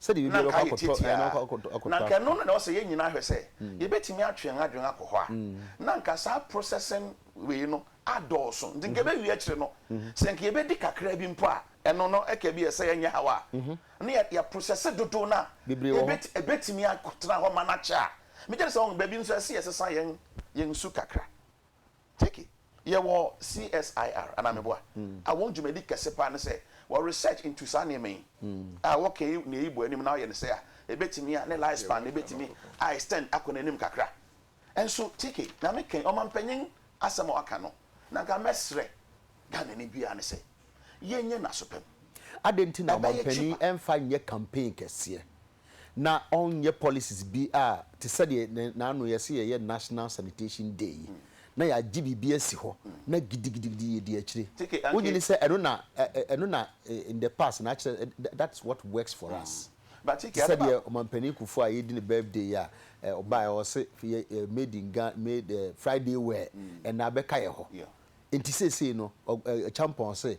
sɛdeɛ ebi Na biara nka bɛkɔ ayɛ akɔtɔ, ɛɛ, na tiatiaa. wakɔ akɔtɔ, akɔtɔ Na nka ɛno afoforo. na ɛwɔ sɛ yɛn nyinaa hwɛ sɛ yɛbɛtumi atwe yɛn adwene akɔ hɔ a, na nka saa processing wei no adɔɔso. Nti nka ɛbɛwie akyire no, sɛ nka yɛbɛdi kakra bi mpo a, ɛno no ɛka bi ɛsɛ ɛnyɛ haw a, na yɛ, yɛ process dodow no a Bebree wɔ hɔ. ɛbɛti, ɛbɛtumi akɔtena hɔ ma no akyɛ a. Megye di sɛ, wɔn, baabi nso ɛsɛ yɛsesa yɛn, yɛn su kakra. Turkey, yɛwɔ CSIR, anaa meboa? a wɔn dwumadi kɛse paa ne sɛ wɔ research into saa nneɛma yi a wɔka yi na eyi bɔ anim na wɔyɛ no sɛɛ a, ebetumi a ne life span no ebetumi a extend akɔ n'anim kakra. Nso Turkey, na me kɛn ɔmampanyin asɛm a ɔaka no, na nka mɛsrɛ Ghanani biara ne sɛ, yɛnyɛ n'asopam. Adɛn nti na ɔmampanyin mfa nyɛ campaign kɛseɛ? na ɔnyɛ policies bi a te sɛ deɛ na naano yɛse yɛyɛ national sanitation day yi na yɛagye biribi asi hɔ na gidigidigidi yɛdi akyire. Wonnye ni sɛ ɛno na ɛno na in the past na akyerɛ ɛ that's what works for us. Te sɛ deɛ Ɔmanpanin Kufuor a yɛredi ne birthday yi a ɔbaeɛ ɔse yɛ ɛ made in Ga made ɛ Friday wear ɛnna abɛka yɛ hɔ nti seesei no ɔ ɛ Acheampong se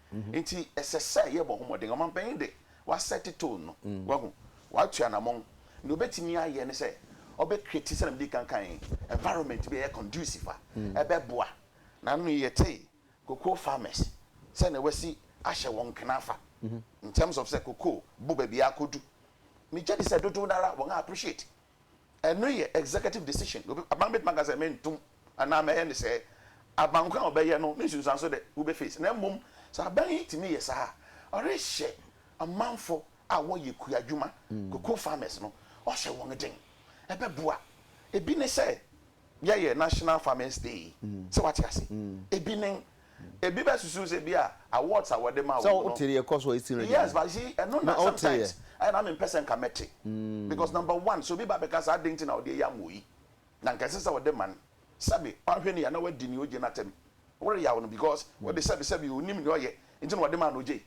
Nti ɛsɛ sɛ yɛbɔ ho mmɔden. Ɔmanpanyin de, wasɛte tone no, wahu, watu anamɔn. Nea obetumi ayɛ ne sɛ ɔbɛcreate, sɛnea mede kan kae, environment bi a ɛyɛ conducive a ɛbɛboa. Na anno yi yɛtee cocoa farmers sɛnea wɔasi ahyɛ wɔn nkene afa, in terms of sɛ cocoa bo baabi a akodu. Migye di sɛ dodow no ara wɔn a appreciate. Ɛno yɛ executive decision. Obi, aban bɛtumi aka sɛ mentom anaa mɛyɛ no sɛɛ. Aban ko a ɔbɛyɛ no, ne nsunsuanso dɛ, wobɛ face. Na mmom sɛ aban yi tumi yɛ saa a, ɔrehyɛ amanfo a wɔyɛ kua adwuma, cocoa farmers no, ɔhyɛ wɔn den. Ɛbɛboa. Ebi ne sɛ, yɛyɛ national farmers day sɛ wate ase ebi nen ebi bɛ susu sɛ bi a awards a wɔde ma wɔn no yes but see ɛno na sometimes ɛyɛ na mi mpɛ sɛ nka mɛte because number one so obi ba bɛka sɛ adan ti na ɔde ɛyɛ amoyi na nka ɛsɛ sɛ ɔde man sɛbi wahwɛ ne yɛ na wadi ne ogye n'atɛm wɔreyaw no because ɔde sɛbi sɛbi onim ne ɔyɛ nti na ɔde ma na ogye.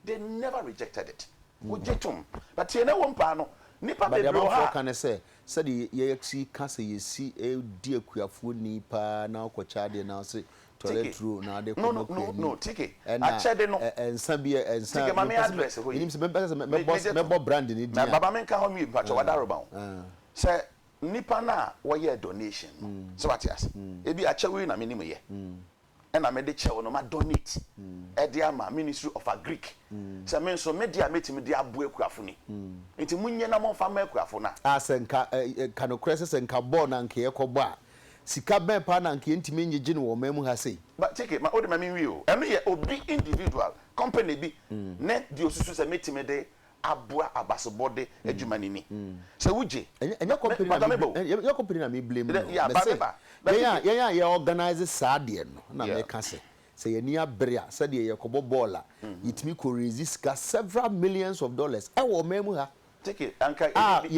They never rejected it. Wogye toom. But tie na wom paa no, nnipa But deɛ bebree wɔ hɔ amanfoɔ a. ka ne sɛ, sɛdeɛ yɛsi ka sɛ yɛsi di akuafoɔ ni paa na wokɔkyɛ adeɛ na wose tɔre Tike, aturo na wode no, no, kɔma no, kuani no, Tike, ɛna akyɛde no. ɛ, nsa bi, ɛ, nsa, Tike, ma me mempɛ sɛ mɛ, address hɔ yi. menim sɛ mempɛ sɛ mɛ, Me, mɛbɔ, megye tom. mɛbɔ brand no din Na a, baba menka hɔ nwie, mpakyɛw, ɛɛ, Adaroma o. ɛɛ, Sɛ nnipa no a wɔyɛɛ donation no, sɛ wate ase, ebi akyɛwee na menim yɛ. na mede kyɛw no ma donate de ama ministry of agric sɛ me nso me de a mɛtumi de aboa akuafo ni nti mo nyɛ na mo nfa ma akuafo no a. A sɛ nka ɛ ɛ ka nokorɛ sɛ sɛ nka bɔɔl na nka yɛkɔ bɔ a sika bɛn paa na nka yɛntumi ngyegye no wɔ ɔman mu ha sei. But Keke ma wode ma me nwie o ɛno yɛ obi individual, company bi ne deɛ ɔsusu sɛ mɛtumi de aboa abasobɔde adwuma no ni. Sɛ wugye. Ɛnyɛ company na me blame, ɛnyɛ company na me blame no. Yeah, ba me ba. Yɛn a yɛn a yɛ organise saa deɛ no na meka sɛ, sɛ yɛn ani abere a, sɛdeɛ yɛkɔbɔ bɔɔl a, yɛtumi kɔ raise sika several millions of dollars ɛwɔ ɔman mu ha. Take it, anka ebi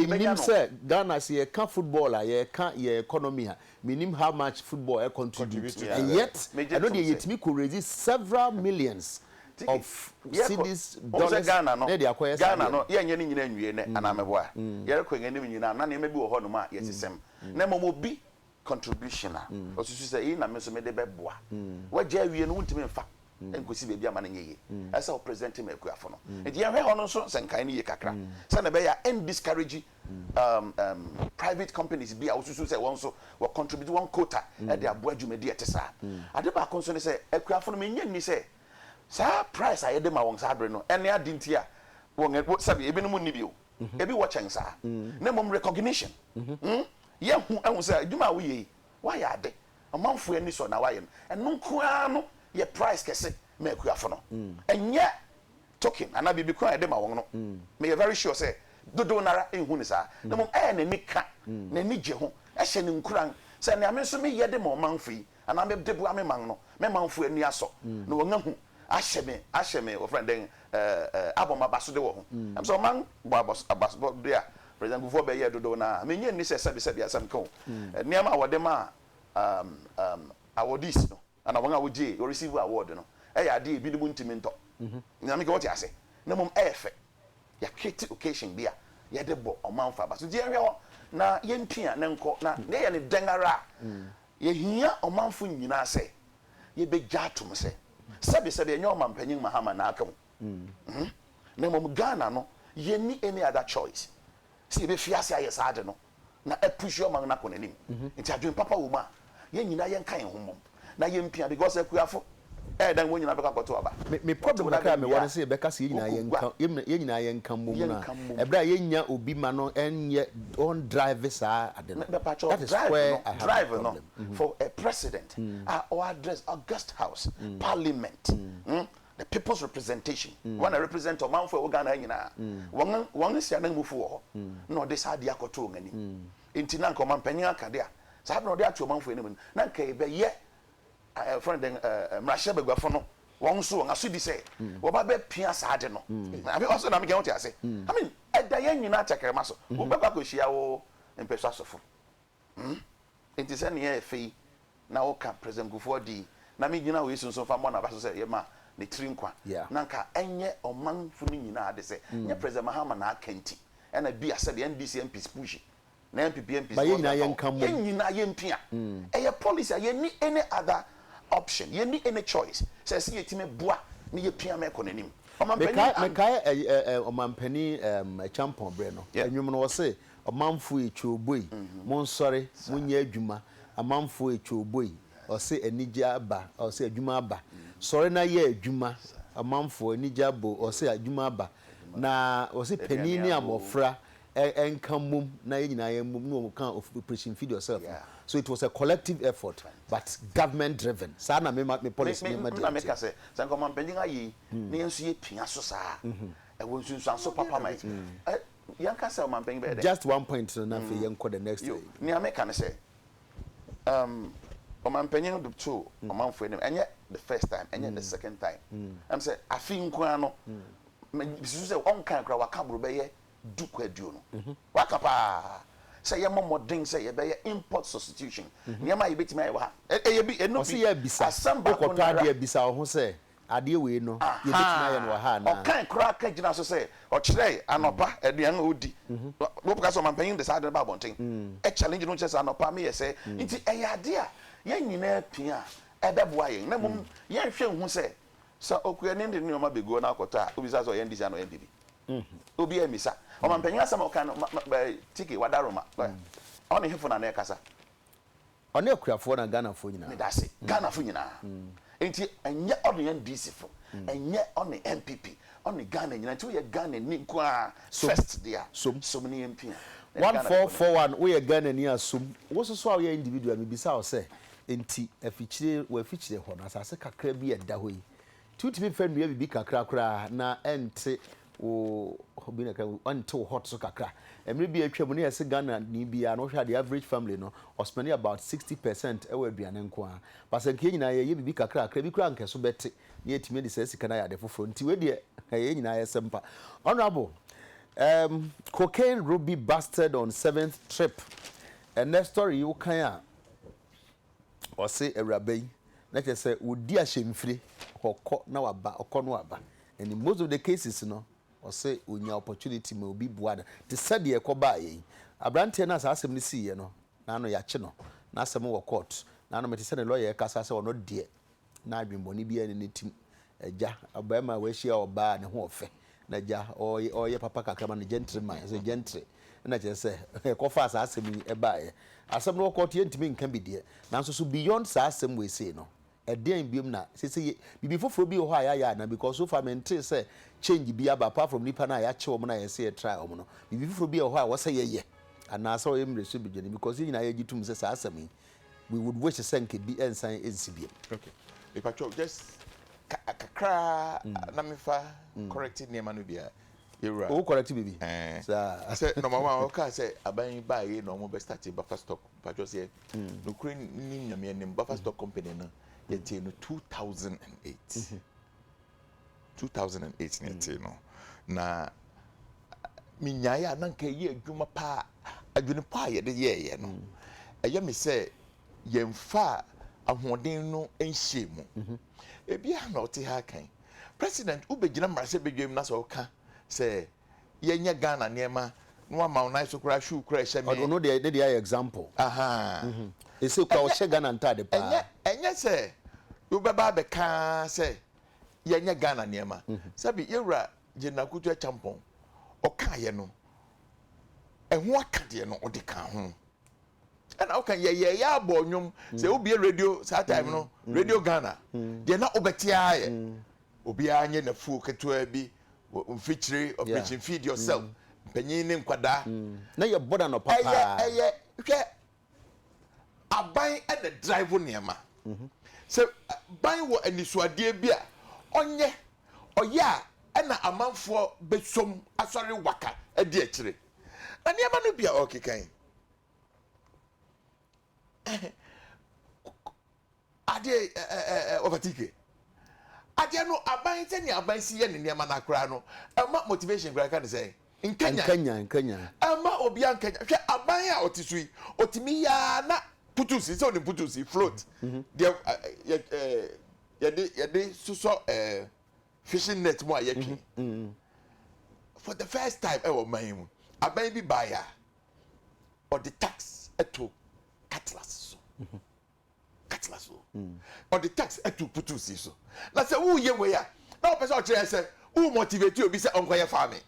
bi bɛnya no. A yɛnim sɛ Ghana sɛ yɛka football a, yɛka yɛn economy a, menim how much football contribute, and yet ɛno deɛ yɛtumi kɔ raise several millions. of cedis, dollars, na yɛde akɔyɛ saa adeɛ no. Yɛnyɛ ne nyina nwie nnɛ anaa meboa? Yɛrekɔ yɛn anim nyinaa na nneɛma bi wɔ hɔ nom a yɛsesem na mmom obi contribution a ɔsusu sɛ eyi na me nso mede bɛboa. Wagya awie no wontumi mfa nkosi baabi ama no nyɛ yie. Ɛsɛ sɛ wo present ma akuafo no. Nti yɛnhwɛ hɔ no nso sɛ nkae no yie kakra sɛdeɛ ɛbɛyɛ a ɛn discourage private companies bi a wosusu sɛ wɔn nso wɔ contribute wɔn quota de aboa dwumadi a ɛte saa. Ade baako nso ne sɛ, akuafo no, minnye nni sɛ saa price a yɛde ma wɔn saa bere no ne ade nti a wɔn ani, sɛbe ebinom nni bi o, ebi wɔ kyɛn saa, na mmom recognition. Yɛahu ahu sɛ adwuma a woyɛ yi, woayɛ ade, ɔmanfo ani sɔ na woayɛ no, ɛno nko ara no yɛ price kɛse ma akuafo no. Ɛnyɛ token anaa biribi ko a yɛde ma wɔn no, meyɛ very sure sɛ dodow no ara nhu no saa, na mmom ɛyɛ n'ani ka, n'ani gye ho, ɛhyɛ no nkuran sɛ nea me nso meyɛ de ma ɔmanfo yi anaa mede boa me man no, me manfo ani asɔ na wɔahu, ahyɛ me, ahyɛ me, wɔfrɛ no dɛn, abɔ me abasode wɔ ho. Ɛm sɛ ɔman bɔ abasode a President Kufuor bɛyɛɛ dodow no ara, minnye nni sɛ sɛbesɛbe asɛm ka o, nneɛma a wɔde maa awardees no, Ana wɔn a wogye, wɔ receive award no, ɛyɛ ade a ebinom ntumi ntɔ? Nyame nka wɔte ase, na mmom ɛyɛ fɛ. Yɛcreate occasion bi a yɛde bɔ ɔmanfo aba. So nti yɛnhwɛ hɔ na yɛntua ne nkɔ, na yɛyɛ no dɛn ara a, yɛhia ɔmanfo nyinaa sɛ yebegye atom sɛ, sɛbesɛbe ɛnyɛ Ɔmampanyin Mahama na aka mu, na mmom Ghana no, yenni any other choice sɛ yebefi ase ayɛ saa ade no. na apushi ɔman no akɔ n'anim nti adwene papa wɔ mu a yɛn nyinaa yɛnka yɛn ho mmom na yɛmpia because akuafo ɛyɛ dɛn wɔn nyinaa bɛkɔ akɔto aba Me, me problem Wɔto kakra a dadeɛ mewɔ wie a, ne sɛ yɛbɛka sɛ yɛn nyinaa wogu gua yɛnka, yɛn yɛn nyinaa yɛnka mmom no a, yɛnka mmom ɛberɛ a yɛnnya obi ma no ɛnyɛ, ɔn drive saa ade no. Mepatwɔ That is drive where no I have my drive no problem. Mhm. for a president a ɔaddress August House, Parliament, mm, The people's representation, wɔn na represent ɔmanfo a ɛwɔ Ghana ha nyinaa, wɔn wɔn nsi ananmufo wɔ hɔ, na ɔde saa adeɛ akɔto wɔn anim. Nti na anka ɔmanpanyin aka de a, saa bere a ɔde ato ɔmanfo anim no, na anka ɛbɛyɛ ɛ ɛfrɛ no dɛn ɛ mmarahyɛ baguafo no wɔn nso wɔn asodi sɛ wɔba bɛpia saa ade no. Ame ɔsɛ na meka wote ase? I mean ɛda yɛn nyinaa tɛkrɛma so. Wobɛkɔ akɔhyia wo mpɛsoa sɔfo. Hmm? Enti sɛ nea ɛyɛ fɛ yi na woka President Kufuor din, na me gyina wei so nso mfa mmɔ n'aba so sɛ yɛma ne tiri nkwa, na anka ɛnyɛ ɔmanfo no nyinaa ade sɛ hmm. nyɛ President Mahama na aka nti ɛna bi asɛ deɛ NDC MPs pushi na NPP MPs ba yɛn nyinaa yɛn ka mu yɛn nyinaa yɛn pia hmm. ɛyɛ policy a yɛn ni any other option yɛn ni any choice sɛ ɛsɛ yɛ ti mi boa ne yɛ pia mɛkɔ n'anim. Mekae ɛyɛ ɔmanpanin ɛkyampɔn berɛ no ɛnwom no wɔ se Ɔmanfoɔ e twa oboi, monsɔre, monyɛ adwuma, amanfoɔ e twa oboi, ɔse anigye aba, ɔse adwuma aba, sɔre na yɛ adwuma, ɔmanfoɔ, anigye aba o, ɔse adwuma aba, na ɔse panin ne abɔfra nka mmom na yɛn nyinaa yɛ mmom, na ɔka operation feed yourself no, so it was a collective effort but government driven, saa na me me policy ne me deɛ te. Me na meka sɛ, sɛ anka ɔmanpanin ayɛ yi na yɛn nso yɛpia so saa a, ɛwɔ nsunsuanso papa ma yɛn. Yɛnka sɛ ɔmanpanyin bɛyɛ dɛn? Just one point no na afei yɛnkɔ the next thing. Yo, nea meka ne sɛ, um, ɔmanpanyin no de too ɔmanfo anim, ɛnyɛ the first time, ɛnyɛ the second time. Ɛm sɛ afe nko ara no, misusu sɛ ɔnkae koraa, waka boro bɛyɛ du kɔ aduonu. Waka paa sɛ yɛmmɔ mmɔden sɛ yɛbɛyɛ import substitution, nneɛma a yebetumi ayɛ wɔ ha. Ɛyɛ bi, ɛno bi, asɛm baako no ara. Ɔse yɛ abisa, wokɔtɔ adeɛ a bisa wo ho sɛ, adeɛ wei no, yɛbɛtumi ayɛ no wɔ ha anaa? Ɔkae koraa ka gyinaa so sɛ ɔkyerɛe anɔpa aduan a ɔdi. Wobɛka sɛ ɔmampanyin de saa ade no ba abɔnten. Challenge no kyerɛ sɛ anɔpa meyɛ sɛɛ. Nti ɛyɛ adeɛ a yɛn nyinaa pia a, ɛbɛboa yɛn. Na mmom yɛnhwɛ nhu sɛ, sɛ okuani de ne nneɛma bɛgu hɔ na akɔtɔ a, wobisa sɛ ɔyɛn de sika anaa ɔyɛn biribi? Obiara ammisa. Ɔmampanyin asɛm a ɔkae no, ma, ma, ma, Tike, Wadaroma, ɔne hefo na na ɛrekasa? Ɔne akuafoɔ na Ghanafoɔ nyinaa. Meda ase. Ghanafoɔ nyinaa. Nti ɛnyɛ ɔne NDC foɔ, ɛnyɛ ɔne NPP, ɔne Ghana nyinaa. Nti woyɛ Ghanani nko ara first deɛ a, som ne yɛmpia. One four four one, woyɛ Ghanani a som. Wo nso so a woyɛ individual, mebisa wo sɛ, nti afikyire, wɔ afikyire hɔ no, asase kakra bi a ɛda hɔ yi, Tumi fa nnua biribi kakra koraa na ɛnte wo obi na ka ɛnte wo hot so kakra. Mmere bi a atwam no yɛ se Ghana ni biara no wohwɛ the average family no ɔspɛnde about sixty percent wɔ aduane nko ara. But sɛ nka yɛn nyinaa yɛyɛ biribi kakra kakra bi koraa nka ɛso bɛte na yɛatumi adi saa sika no ayɛ ade foforɔ nti wei deɛ ɛyɛ yɛn nyinaa ayɛsɛm pa. Honourable, um, cocaine Ruby busted on seventh trip. Ɛnɛ story yi wokan a Ɔse awuraba yi na kyerɛ sɛ ɔdi ahyɛmfire, ɔkɔ na waba, ɔkɔ na waba and in most of the cases no ɔse ɔnya opportunity ma obi boa no te sɛ deɛ ɛkɔbaeɛ yi. Abranteɛ no a saa asɛm no siiɛ no, na ano yɛakye no, n'asɛm wɔ court, na ano mete sɛ ne lawyer ɛkasa sɛ ɔno deɛ Na adwemmɔne biara nni ne tirim. Agya, ɔbarima a wahyia ɔbaa a ne ho ɔfɛ, na agya ɔyɛ ɔyɛ papa kakra ma no gentleman, ɛsɛ gentle, ɛna kyerɛ sɛ ɛkɔfaa saa asɛm yi ɛbaeɛ. Asɛm no ɔkɔɔ to yɛntumi nka bi deɛ, nanso so beyond saa asɛm wei sei no, ɛdeɛn biom na seesei yɛ, biribi foforɔ bi wɔ hɔ a yɛayɛ anaa? Because so far mentee sɛ change bi aba apart from nnipa no a yɛakye wɔn na yɛse yɛtraa wɔn no, biribi foforɔ bi wɔ hɔ a ɛwɔ sɛ yɛyɛ anaasɛ ɔyɛ mmerɛsodwene? Because yɛn nyinaa yɛgye tom sɛ saa asɛm yi, We would wish sɛ nka bi nsan nsi biom. Okay. Mepatwɔ just kakraa mm. na mefa mm. correct nneɛma no biara. Yɛwura. Owó correct bibi. Ɛɛ. Saa. Sɛ nɔɔma wa ɔka sɛ aban yi baa yie na wɔn bɛ start buffer stock mepatwɔ sɛ mm. nukuri nim nyameɛ nim buffer stock company no yɛtee no two thousand and eight. Mm-hmm. two thousand and eight na ɛtee no na menyaeɛ a na nka ɛyɛ adwuma paa adwene pa a yɛde yɛɛyɛ no ɛyɛ me sɛ yɛmfa ahoɔden no nhyɛ mu mhm. ebi a na ɔte ha kan president wobɛgyina mmarahyɛ badwam na sɛ ɔka sɛ yɛnyɛ ghana nneɛma na wama wo nan so koraa shoe koraa ɛhyɛ me ɔno deɛ ne deɛ ayɛ example ɛsɛ mhm. kora ɔhyɛ ghana ntade paa ɛnyɛ sɛ wobɛba abɛka sɛ yɛnyɛ Ghana nneɛma. Sɛbi yɛwura General Kutu Acheampong, ɔkaeɛ no, ɛho aka deɛ no ɔde ka ho. Ɛna woka yɛyɛ yɛ abɔ nnwom sɛ wobie radio saa time no, Radio Ghana, deɛ na wobɛte ara yɛ obiara nyɛ n'afuo ketewa bi mfikyire operation feed yourself mpanyin ne nkwadaa. Na yɛ bɔda nɔpa paa. Ɛyɛ ɛyɛ hwɛ Aban na drive nneɛma. Sɛ ban wɔ anisoadeɛ bi a ɔnyɛ, ɔyɛ a ɛna amanfoɔ bɛsom asɔre waka adi akyire. Na nneɛma no bi a ɔrekeka yi, Adeɛ eh eh eh eh Ovatike Adeɛ no aban sɛ nea aban si yɛ ne nneɛma no koraa no ɛma motivation koraa yɛka no sɛn? Nkanyan Nkanyan nkanyan. Ɛmma obiara nkanyan hwɛ aban a ɔte so yi ɔtumi yɛ ara na putusi sɛ onim putusi float deɛ yɛ eh yɛde yɛde sosɔ eh fishing net mu a yɛtwe for the first time ɛwɔ man yi mu aban bi baeɛ a ɔde tax to cutlass so. atena so. Ɔde text atu putuu si so. Na sɛ woyɛ wei a, na ɔpɛ sɛ ɔkyerɛ sɛ wo motivate obi sɛ ɔnkɔyɛ farming.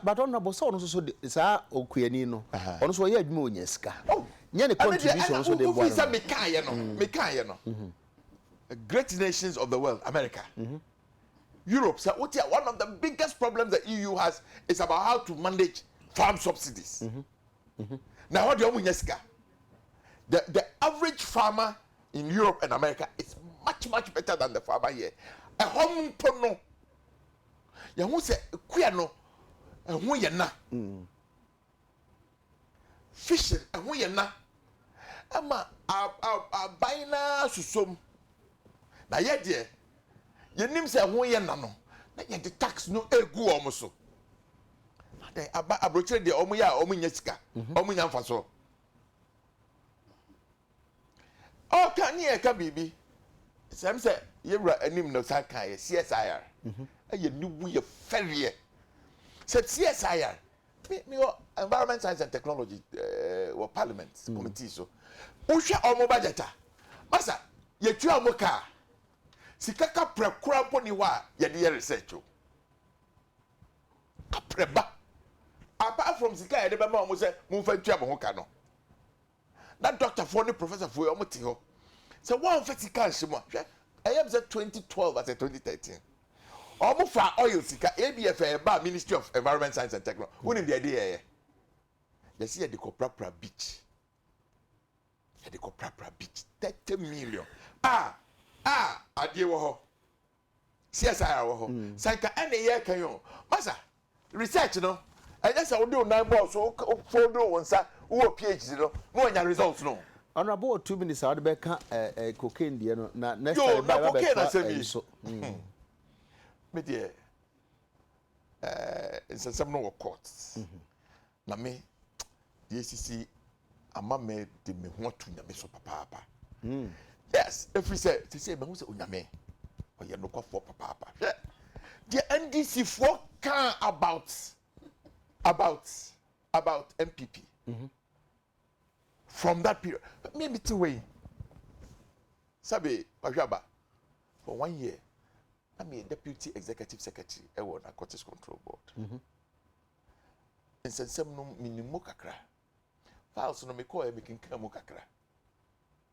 But honorable sɛ ɔno nso so de saa okuani no ɔno nso ɔyɛ adwuma ɔnya sika oh. nyɛ ne contribution nso de boa no. Sɛ mekaeɛ no mm-hmm. mekaeɛ no mm-hmm. great nations of the world America. Mm-hmm. Europe sɛ wote a one of the biggest problems the EU has is about how to manage farm subsidies. Mm-hmm. Mhm. Na hɔ deɛ ɔmo nya sika. The the average farmer in Europe and America is much much better than the farmer here. Ɛhɔ mpo no, yɛn ho sɛ kua no ɛho yɛ na. Mm. Fishing ɛho yɛ na. Ɛma aban naa susom. Na yɛ deɛ, yɛnim sɛ ɛho yɛ na no, na yɛde tax no egu wɔn so. Adɛn, aba aburokyire deɛ wɔn yɛ a wɔn nya sika, mhm. wɔn nya nfasoɔ. Ɔka ne yɛ ka biribi, sɛm sɛ yɛwura anim na ɔsan kan yɛ CSIR, mhm. ɛyɛ ne wu yɛ fɛreɛ. Sɛ CSIR, me me wɔ environment science and technology ɛɛ eh, wɔ parliament mhm. committee so, wohwɛ wɔn budget a, masa yɛtua wɔn kaa, sika kapra kura mpo ni hɔ a yɛde yɛ research o. Aprɛ ba. Apart from sika a yɛde bɛma wɔn sɛ momfa ntua mo ho ka no, na dɔktafoɔ ne professorfoɔ yi wɔte hɔ sɛ wɔamfa sika anhyɛ mu a, hwɛ, ɛyɛ me sɛ 2012 asɛ 2013, wɔfaa oil sika, ABF a ɛbaa Ministry of Environment Science and Technology, wonim deɛ ɛde yɛeɛ? Yɛse yɛde kɔprapra beach. Yɛde kɔprapra beach 30 million. Ah! Ah! Adeɛ wɔ hɔ. CSIR wɔ hɔ. Mm. Sɛ nka ɛne yɛka yi o. Masa, research no, ɛnyɛ sɛ wode wo nan bɔɔ so, wofodoo wo nsa, wowɔ PhD no, na wanya results no. Honorable wɔ two minutes a wode bɛka eh, eh, cocaine deɛ no, na next time ba ɛba bɛtoa ɛyi so. Mm. Me deɛ, eh, nsɛnsɛm no wɔ court. Mm -hmm. Na me deɛ sisi ama me de me ho ato nyame so papaapa hmm. yes ɛfiri sɛ sisi mahu sɛ onyame ɔyɛ nokwafoɔ papaapa hwɛ deɛ ndc foɔ kaa about about about mpp mm -hmm. from that period me me ti hɔ yi sɛbi ɔhwɛ aba for one year na mi yɛ deputy executive secretary ɛwɔ narcotics control board mhm. nsɛnsɛm no mi ni mu kakra files no mi kɔɔ yɛ mi kinkira mu kakra.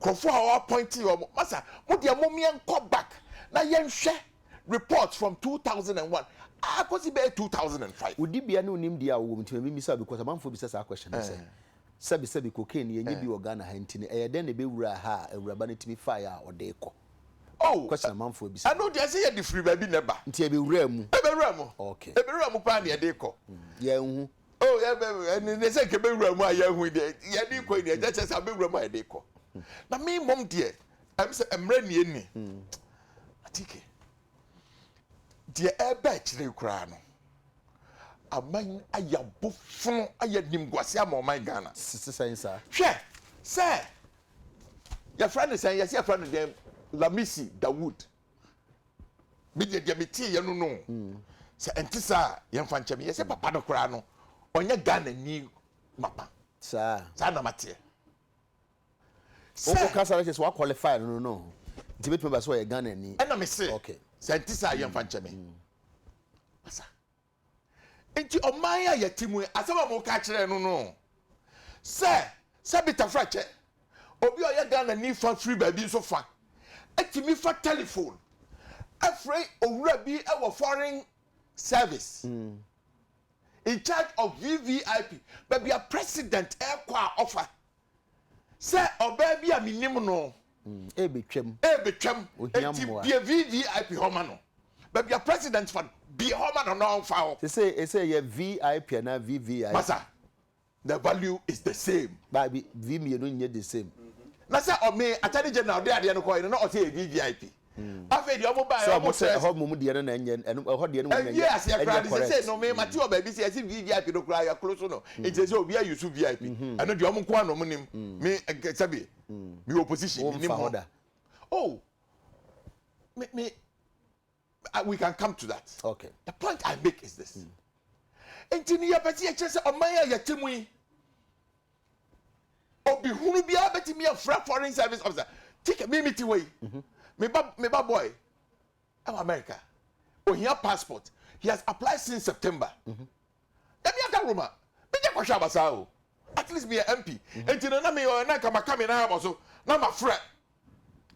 nkurɔfoɔ a wɔappointee wɔn no, masa mo deɛ mom yɛnkɔ back na yɛnhwɛ reports from two thousand and one ara kɔsi bɛyɛ two thousand and five. Wo dibea ne wo nimdeɛ a wowɔ mu nti na memmisa wo because amanfoɔ bisa saa question no sɛ, sɛbesɛbe cocaine no yɛnyɛ bi wɔ Ghana ha nti no ɛyɛ dɛn na ɛbɛwuraa ha a awuraba no tumi faeɛ a ɔde rekɔ? Oh, Question amanfoɔ bisa no. ɛno deɛ ɛsɛ yɛde firi baabi na ɛba. Nti ɛbɛwuraa mu? Ɛbɛwuraa mu. Okay. Ɛbɛwuraa mu paa na yɛde rekɔ. Yɛanhu. o yɛ bɛ ɛne ne sɛ kɛbɛ wura mu a yɛ hu deɛ yɛ de kɔ yi deɛ ɛkyɛ sɛ abɛ wura mu a yɛ de kɔ na mi mɔm deɛ ɛm sɛ ɛmrɛ nie ni atike deɛ ɛbɛ akyire koraa no aman ayɛ abofono ayɛ nimguase ama ɔman ghana sisi sɛn saa hwɛ sɛ yɛfrɛ no sɛn yɛsɛ yɛfrɛ no dɛn lamisi dawood me deɛ deɛ meteeɛ no no mm. sɛ ɛnte saa a yɛmfa nkyɛ me yɛ sɛ papa no koraa no ɔnyɛ ghana ni mapa saa saa na mateɛ sɛ wokasa no kyɛ sɛ woaqualify no no no nti bɛtumi ba sɛ ɔyɛ ghana ni ɛna mese sɛ ɛnte saa yɛmfa nkyɛ me mm. asa Enti ɔman a yɛte mu yi, asɛm a moka kyerɛ no no sɛ, sɛ bi tafra kyɛ, obi a ɔyɛ Ghanani fa firi baabi nso fa tumi fa tɛlefon frɛ owura bi wɔ foreign service in charge of VVIP, baabi a president rekɔ a ɔfa. sɛ ɔbaa bi a menim no ɛrebɛtwam ɛrebɛtwam enti bie vvip hɔ ma no baabi a president fa no bie hɔ ma no na ɔmfa hɔ sɛ ɛsɛ yɛ vip anaa vvip masa the value is the same baabi vi mmienu nyɛ the same na sɛ ɔme attorney general de adeɛ no kɔɛ no na ɔsɛ yɛ vvip Afei deɛ wɔn baeɛ wɔn sɛ. ɛhɔ mmom deɛ no na ɛnyɛ ɛno ɛhɔ deɛ no mmom na ɛnyɛ ɛnyɛ aseɛ koraa de sɛ sɛ no mema te wɔ baabi sɛ ɛsi vvip no koraa yɛkoro so no nti sɛ obi ayi so vip ɛno deɛ wɔn nko ara na wɔn nim me sɛbi me wɔ position me nim hɔ oh me me we can come to that okay the point i make is this nti no yɛpɛ sɛ yɛkyerɛ sɛ ɔman a yɛte mu yi obi hunu biara bɛtumi afura foreign service officer tikɛ mi mi ti hɔ yi mhm. me ba me ba boy ɛwɔ america ohia passport he has applied since september mhm. ɛmi aka roma mi jɛ kɔhwɛ abasa o at least mi yɛ mp mhm. nti na mi yɛ ɔyɛ na nka ma ka mi na ama so na ma frɛ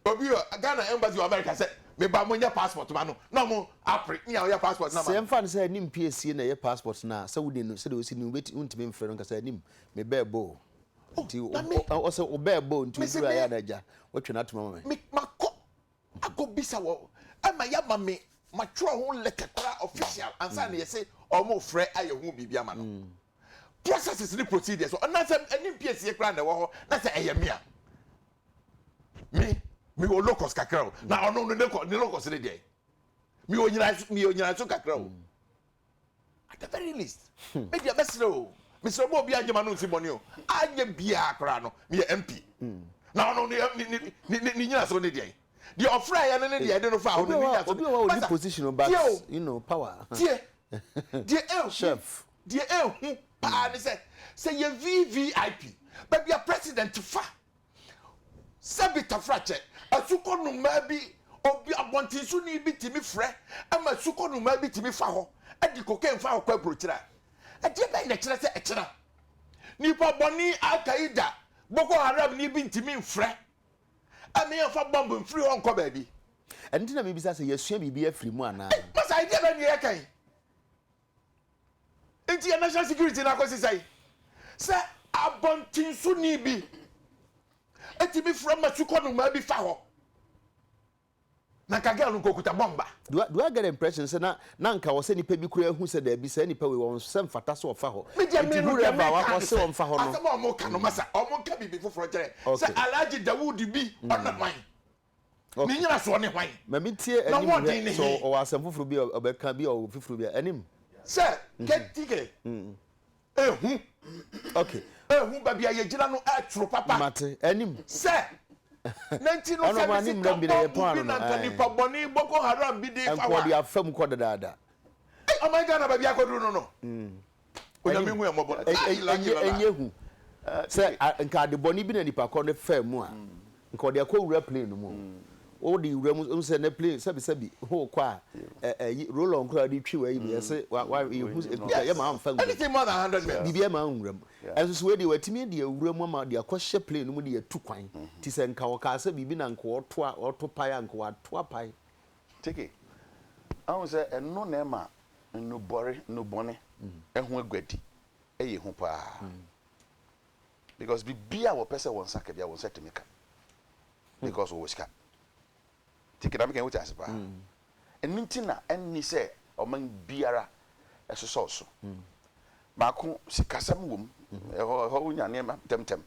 Obi wɔ Ghana embassy wɔ America sɛ me ba mo nyɛ passport ma no na ɔmo apre nea ɔyɛ passport no ama no. Sɛ ɛmfa no sɛ anim piesie na ɛyɛ passport no a sɛ wode no sɛdeɛ ɔsi no wontumi mfrɛ no nka sɛ anim me bɛɛ boo nti ɔsɛ wo bɛɛ boo nti woduru ayɛ na agya wotwe no atom ama me. Me makɔ akɔ bisa wɔ ɛma yɛ ama me matwerɛ ho letter koraa official ansa na yɛse ɔmo frɛ ayɛ ho biribi ama no processes ne procedures ɔnasɛ anim piesie koraa na ɛwɔ hɔ na sɛ ɛyɛ me a. mi mi wɔ locus kakra o na ɔno no dekɔ ne locus ne deɛ mi wɔ nyina so mi wɔ nyina so kakra o at the very least hmm. mi deɛ bɛsrɛ o mi srɛ bɔ obi anyɛ ma no nsi bɔne o anyɛ biara koraa no mi yɛ mp hmm. na ɔno ne ne ne ne nyina so ne deɛ deɛ ɔfra yɛ no ne deɛ ɛde no fa ɔno ne nyina so obi wa odi position o but you know power deɛ deɛ ehu deɛ ehu paa ne sɛ sɛ yɛ vvip baabi a president fa. Sɛbi tafrakyɛ, asukɔ nnomaa bi, obi abɔntensoni bi tumi frɛ ma asukɔ nnomaa bi tumi fa hɔ de cocaine fa hɔ kɔ aburokyire a, ɛdeɛ bɛn na ɛkyerɛ sɛ ɛkyena? Nipa bɔne Al Qaeda, Boko Haramni bi ntumi mfrɛ ma yɛmfa bɔmb mfiri hɔ nkɔ baabi. Ɛno nti na mebisa sɛ yɛasua biribi afiri mu anaa? Masa, ɛdeɛ bɛn na yɛreka yi? Nti yɛ national security no akɔsi sɛn? Sɛ abɔntensoni bi tumi frɛ ma sukɔ nnomaa bi fa hɔ, na nka girl no nka okuta bɔmba. Do I, do I get the impression sɛ na na nka wɔ sɛ nipa bi koraa hu sɛ daabi saa nipa wei wɔn sɛ mfata sɛ ɔfa hɔ. Me deɛ Nti me no deɛ whoever a me wa- ka no wɔse sɛ wɔmfa hɔ no. asɛm a wɔn ka no masa wɔn nka biribi foforɔ nkyerɛ sɛ Okay. Alhaji Dawood bi ɔnam man Ne nnyinasoɔ ne hwan? Ma mentie Na anim hwɛ wɔden ne sɛ he? ɔwɔ asɛm foforɔ bi a ɔbɛka bi a ɔwɔ fifiri bi a anim. Sɛ keteke ehu Okay, ehu baabi a yɛgyina no ɛtoro papa. mate. Anim. Sɛ na nti no Ɛno sɛ ɔmo ne anim sika mmram bi na bɔmbu yɛtɔn bi ano no, na nka ɛɛ. nipa bɔne Boko Haram bi de fa Ɛnkɔɔ wa. deɛ afa mu kɔ dedaada. Ei ɔman Ghana baabi akɔduru no no. Onyame hu yɛn mmɔbɔ no. Ɛnyɛ Ɛnyɛ lucky lɔla. ɛnyɛ hu eh, sɛ Ɛnyɛ. a, nka ade bɔne bi na nipa kɔ no faa mu a nka ɔde akɔ wura plane no mu o wode wura mu wohu sɛ na plane sɛbisɛbi ho kɔ a ɛ- ɛyi roll-on koraa wode twi w'ayi no yɛse wa- wa- Wei yɛhu nyɛ sɛ ɛkuta yɛ ma Yes. amfa nwura mu Anything more than 100 mil. biribi ama anwura mu Yeah. ɛnso so wei deɛ watumi de awura mu ama de akɔhyɛ plane no mu de atu kwan nti sɛ nka ɔkaa sɛ biribi na nka ɔto a ɔto pae a nka wato apae Teke, ahu sɛ ɛno na ɛma nnubɔre, nnubɔne, ho aguadi yɛ hu paa. Because biribiara a wɔpɛ sɛ wɔn nsa ka biara, wɔn nsa tumi ka. Because wɔwɔ sika. Teke, na meka yi, wote ase paa? Ɛno nti na ɛnni sɛ ɔman biara sosɔ so. Baako, sikasɛm wom, ɛhɔ wonya nneɛma ntɛmntɛm.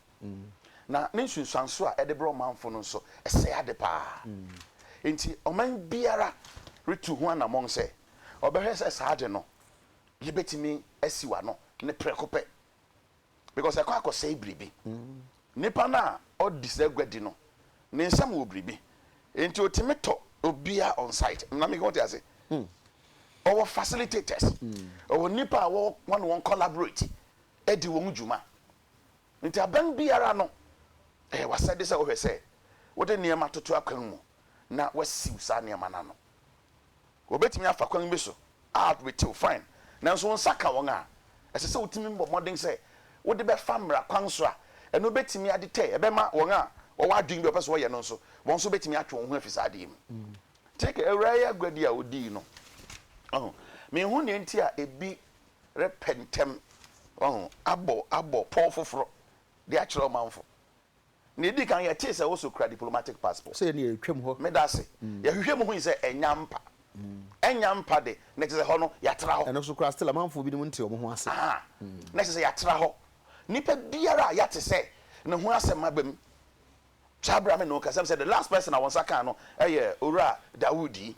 Na ne nsunsuanso a ɛde brɛ ɔmanfo no nso, ɛsɛe ade paa. Enti ɔman biara retu ho anammɔn sɛ ɔbɛhwɛ sɛ saa ade no, yebetumi asiw ano ne prɛko pɛ, because ɛkɔ akɔsɛe biribi. Nipa no a ɔde saa aguadi no, ne nsam wɔ biribi, enti otumi tɔ obiara on site. Ná meka wote ase? Ɔwɔ facilitators, ɔwɔ nnipa a ɔne wɔn collaborate di wɔn dwuma. Enti abɛn biara no, ɛyɛ w'asɛde sɛ wohwɛ sɛ wode nneɛma toto akwan mu na woasiw saa nneɛma no ano. Wobetumi afa kwan bi so a betew, fine, nanso wo nsa ka wɔn a, ɛsɛ sɛ wutumi bɔ mmɔden sɛ wode bɛfa mmara kwan so a ɛno betumi ade tɛ, ɛbɛma wɔn a wɔwɔ adwene bi a wɔpɛ sɛ wɔyɛ no nso, wɔn nso betumi atwe wɔn ho afi saa ade yi mu. Take awuraeɛ aguadi a wodii no. Minhu nea enti a ebi repɛ ntɛm wahu, abɔ abɔ pɔw foforo de akyerɛ ɔmanfo. Nea edi kan, yɛtee sɛ Oso kura diplomatic passport. Sɛ yɛne yɛn retwam hɔ. Meda ase. Yɛhwehwɛɛ mu hui sɛ ɛnya mpa. Ɛnya mpa de, na ɛkyerɛ sɛ ɛhɔ no, yɛatra hɔ. Ɛno so koraa, still amanfoɔ binom nte wɔn ho ase. Aha, na ɛkyerɛ sɛ yɛatra hɔ. Nipa biara a yɛate sɛ ne ho asɛm aba mu, saa bere a me ne wo rekasa, sɛ the last person a wɔn nsa kaa no yɛ Owura Dawood yi.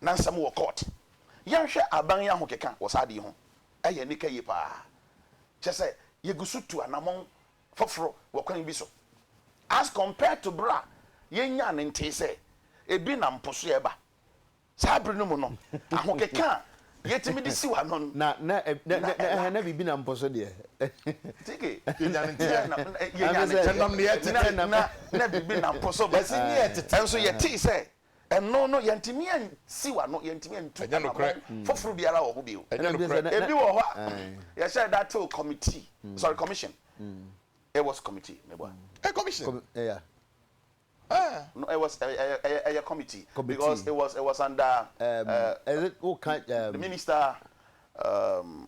na nsɛm wɔ court. Yɛnhwɛ aban yi ahokeka wɔ saa ade yi ho. Ɛyɛ anika yie paa. Kyerɛ sɛ, yɛgu so tu anammɔn foforo wɔ kwan bi so as compared to bere a yɛnyaa no ntee sɛ ebi nam po so reba. Saa bere no mu no, ahokeka a yɛtumi de siw ano no, na ɛlack. Na biribi nam po so deɛ. Tike. Yɛnyaa no ntee a, na ɛnam nea ɛtete. Na biribi nam po so ba. Ɛnso yɛtee sɛ Ɛno no, yɛntumi ansiw ano, yɛntumi antu anammɔn foforo biara wɔ ho bio. Ebi wɔ hɔ a, yɛhyɛɛ da tew kɔmitii, sorry, commission, it was committee, meboa. Ɛyɛ commission? Yeah. Ah. No, it was a, a, committee, committee because it was it was under um, uh, is it okay, um, the minister um,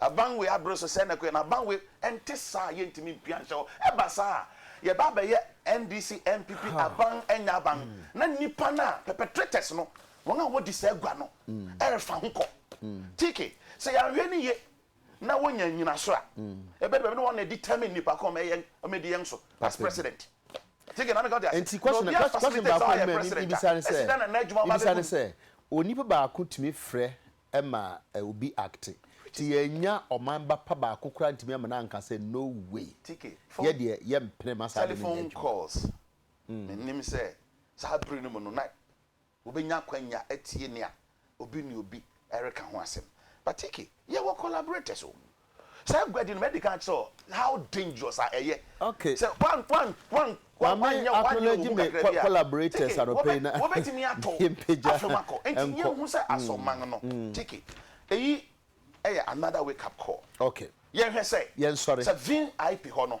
Abanwe abere so sɛɛ na ɛkɔ yɛ no Abanwe ɛnte saa yɛntumi mpia nhyɛ hɔ ɛba saa a yɛba abɛyɛ NDC NPP aban ɛnyɛ aban na nnipa no a perpetrators no wɔn a wɔdi saa gua no ɛrefa ho kɔ TK sɛ yɛanhwɛ no yie na wɔnya nyinasoɔ a ɛbɛdu baabi na wɔn na ɛdi termine nnipa kɔn wɔn ɛdi yɛn so as president TK na meka wote ase nti question question baako mɛ mibisa ne sɛ mibisa ne sɛ onipa baako tumi frɛ ma obi acte nti yɛannya ɔman ba pa baako koraa antumi amana anka sɛ no way yɛ deɛ yɛ mpene ma saa ade no nyɛ adwuma. Mennim sɛ saa bere no mu no na wobɛnya akwanya atie nea obi ne obi reka ho asɛm but yɛwɔ collaborators wɔ mu. Saa aguadi no ma ɛdi kan kyerɛ wo how dangerous a ɛyɛ. Okay. Sɛ wan wan wan wan wan nyɛ wan nyɛ obu kakra bi a. Collaborators anɔpɛ yi na. Wɔbɛ tumi atɔ afɛm akɔ. Nti yɛn hu sɛ asɔman no. Tiki. Eyi ɛyɛ another wake up call. Okay. Yɛn hwɛ sɛ. Yɛn sɔre. Sɛ vin aip hɔ no.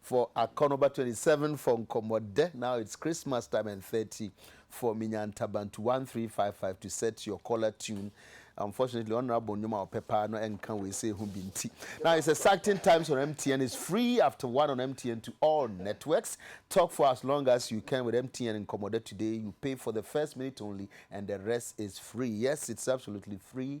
for Akɔnɔba twenty seven for Nkɔmmɔdɛ now it's Christmas time and thirty for Minyantabantu one three five five to set your collar tune unfortunately ɔnra bɔ nnwom a ɔpɛ paa no ɛnka wei sɛ ɛho bi nti now it's exciting times on MTN it's free after one on MTN to all networks talk for as long as you can with MTN Nkɔmmɔdɛ today you pay for the first minute only and the rest is free yes it's absolutely free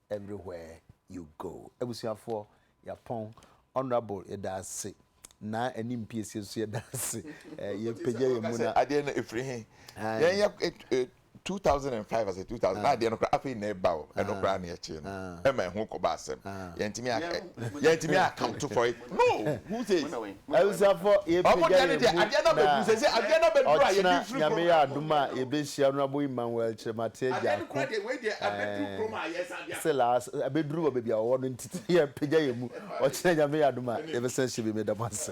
Everywhere you go abusuafoɔ yɛapɔn honourable yɛda ase naa anim piesie nso yɛda ase ɛɛ yɛpagya yɛn mu na. Adeɛ no efiri he yɛn yɛ eh, eh, two thousand and five ase two thousand na adeɛ no koraa afei na ɛba o ɛno koraa na yɛkyee no ɛma ɛho kɔba asɛm yɛntumi a yɛntumi a account for it Awusafoɔ yɛpagya yɛn mu na ɔkyena Nyame yɛ adom a yɛbɛhyia no abɔ Emmanuel Kyeremateɛ Gyarko eh, se last abɛduru wɔ baabi a ɔwɔ no nti yɛpagya yɛn mu ɔkyena Nyame yɛ adom a yɛbɛsan hyia bi meda mo ase.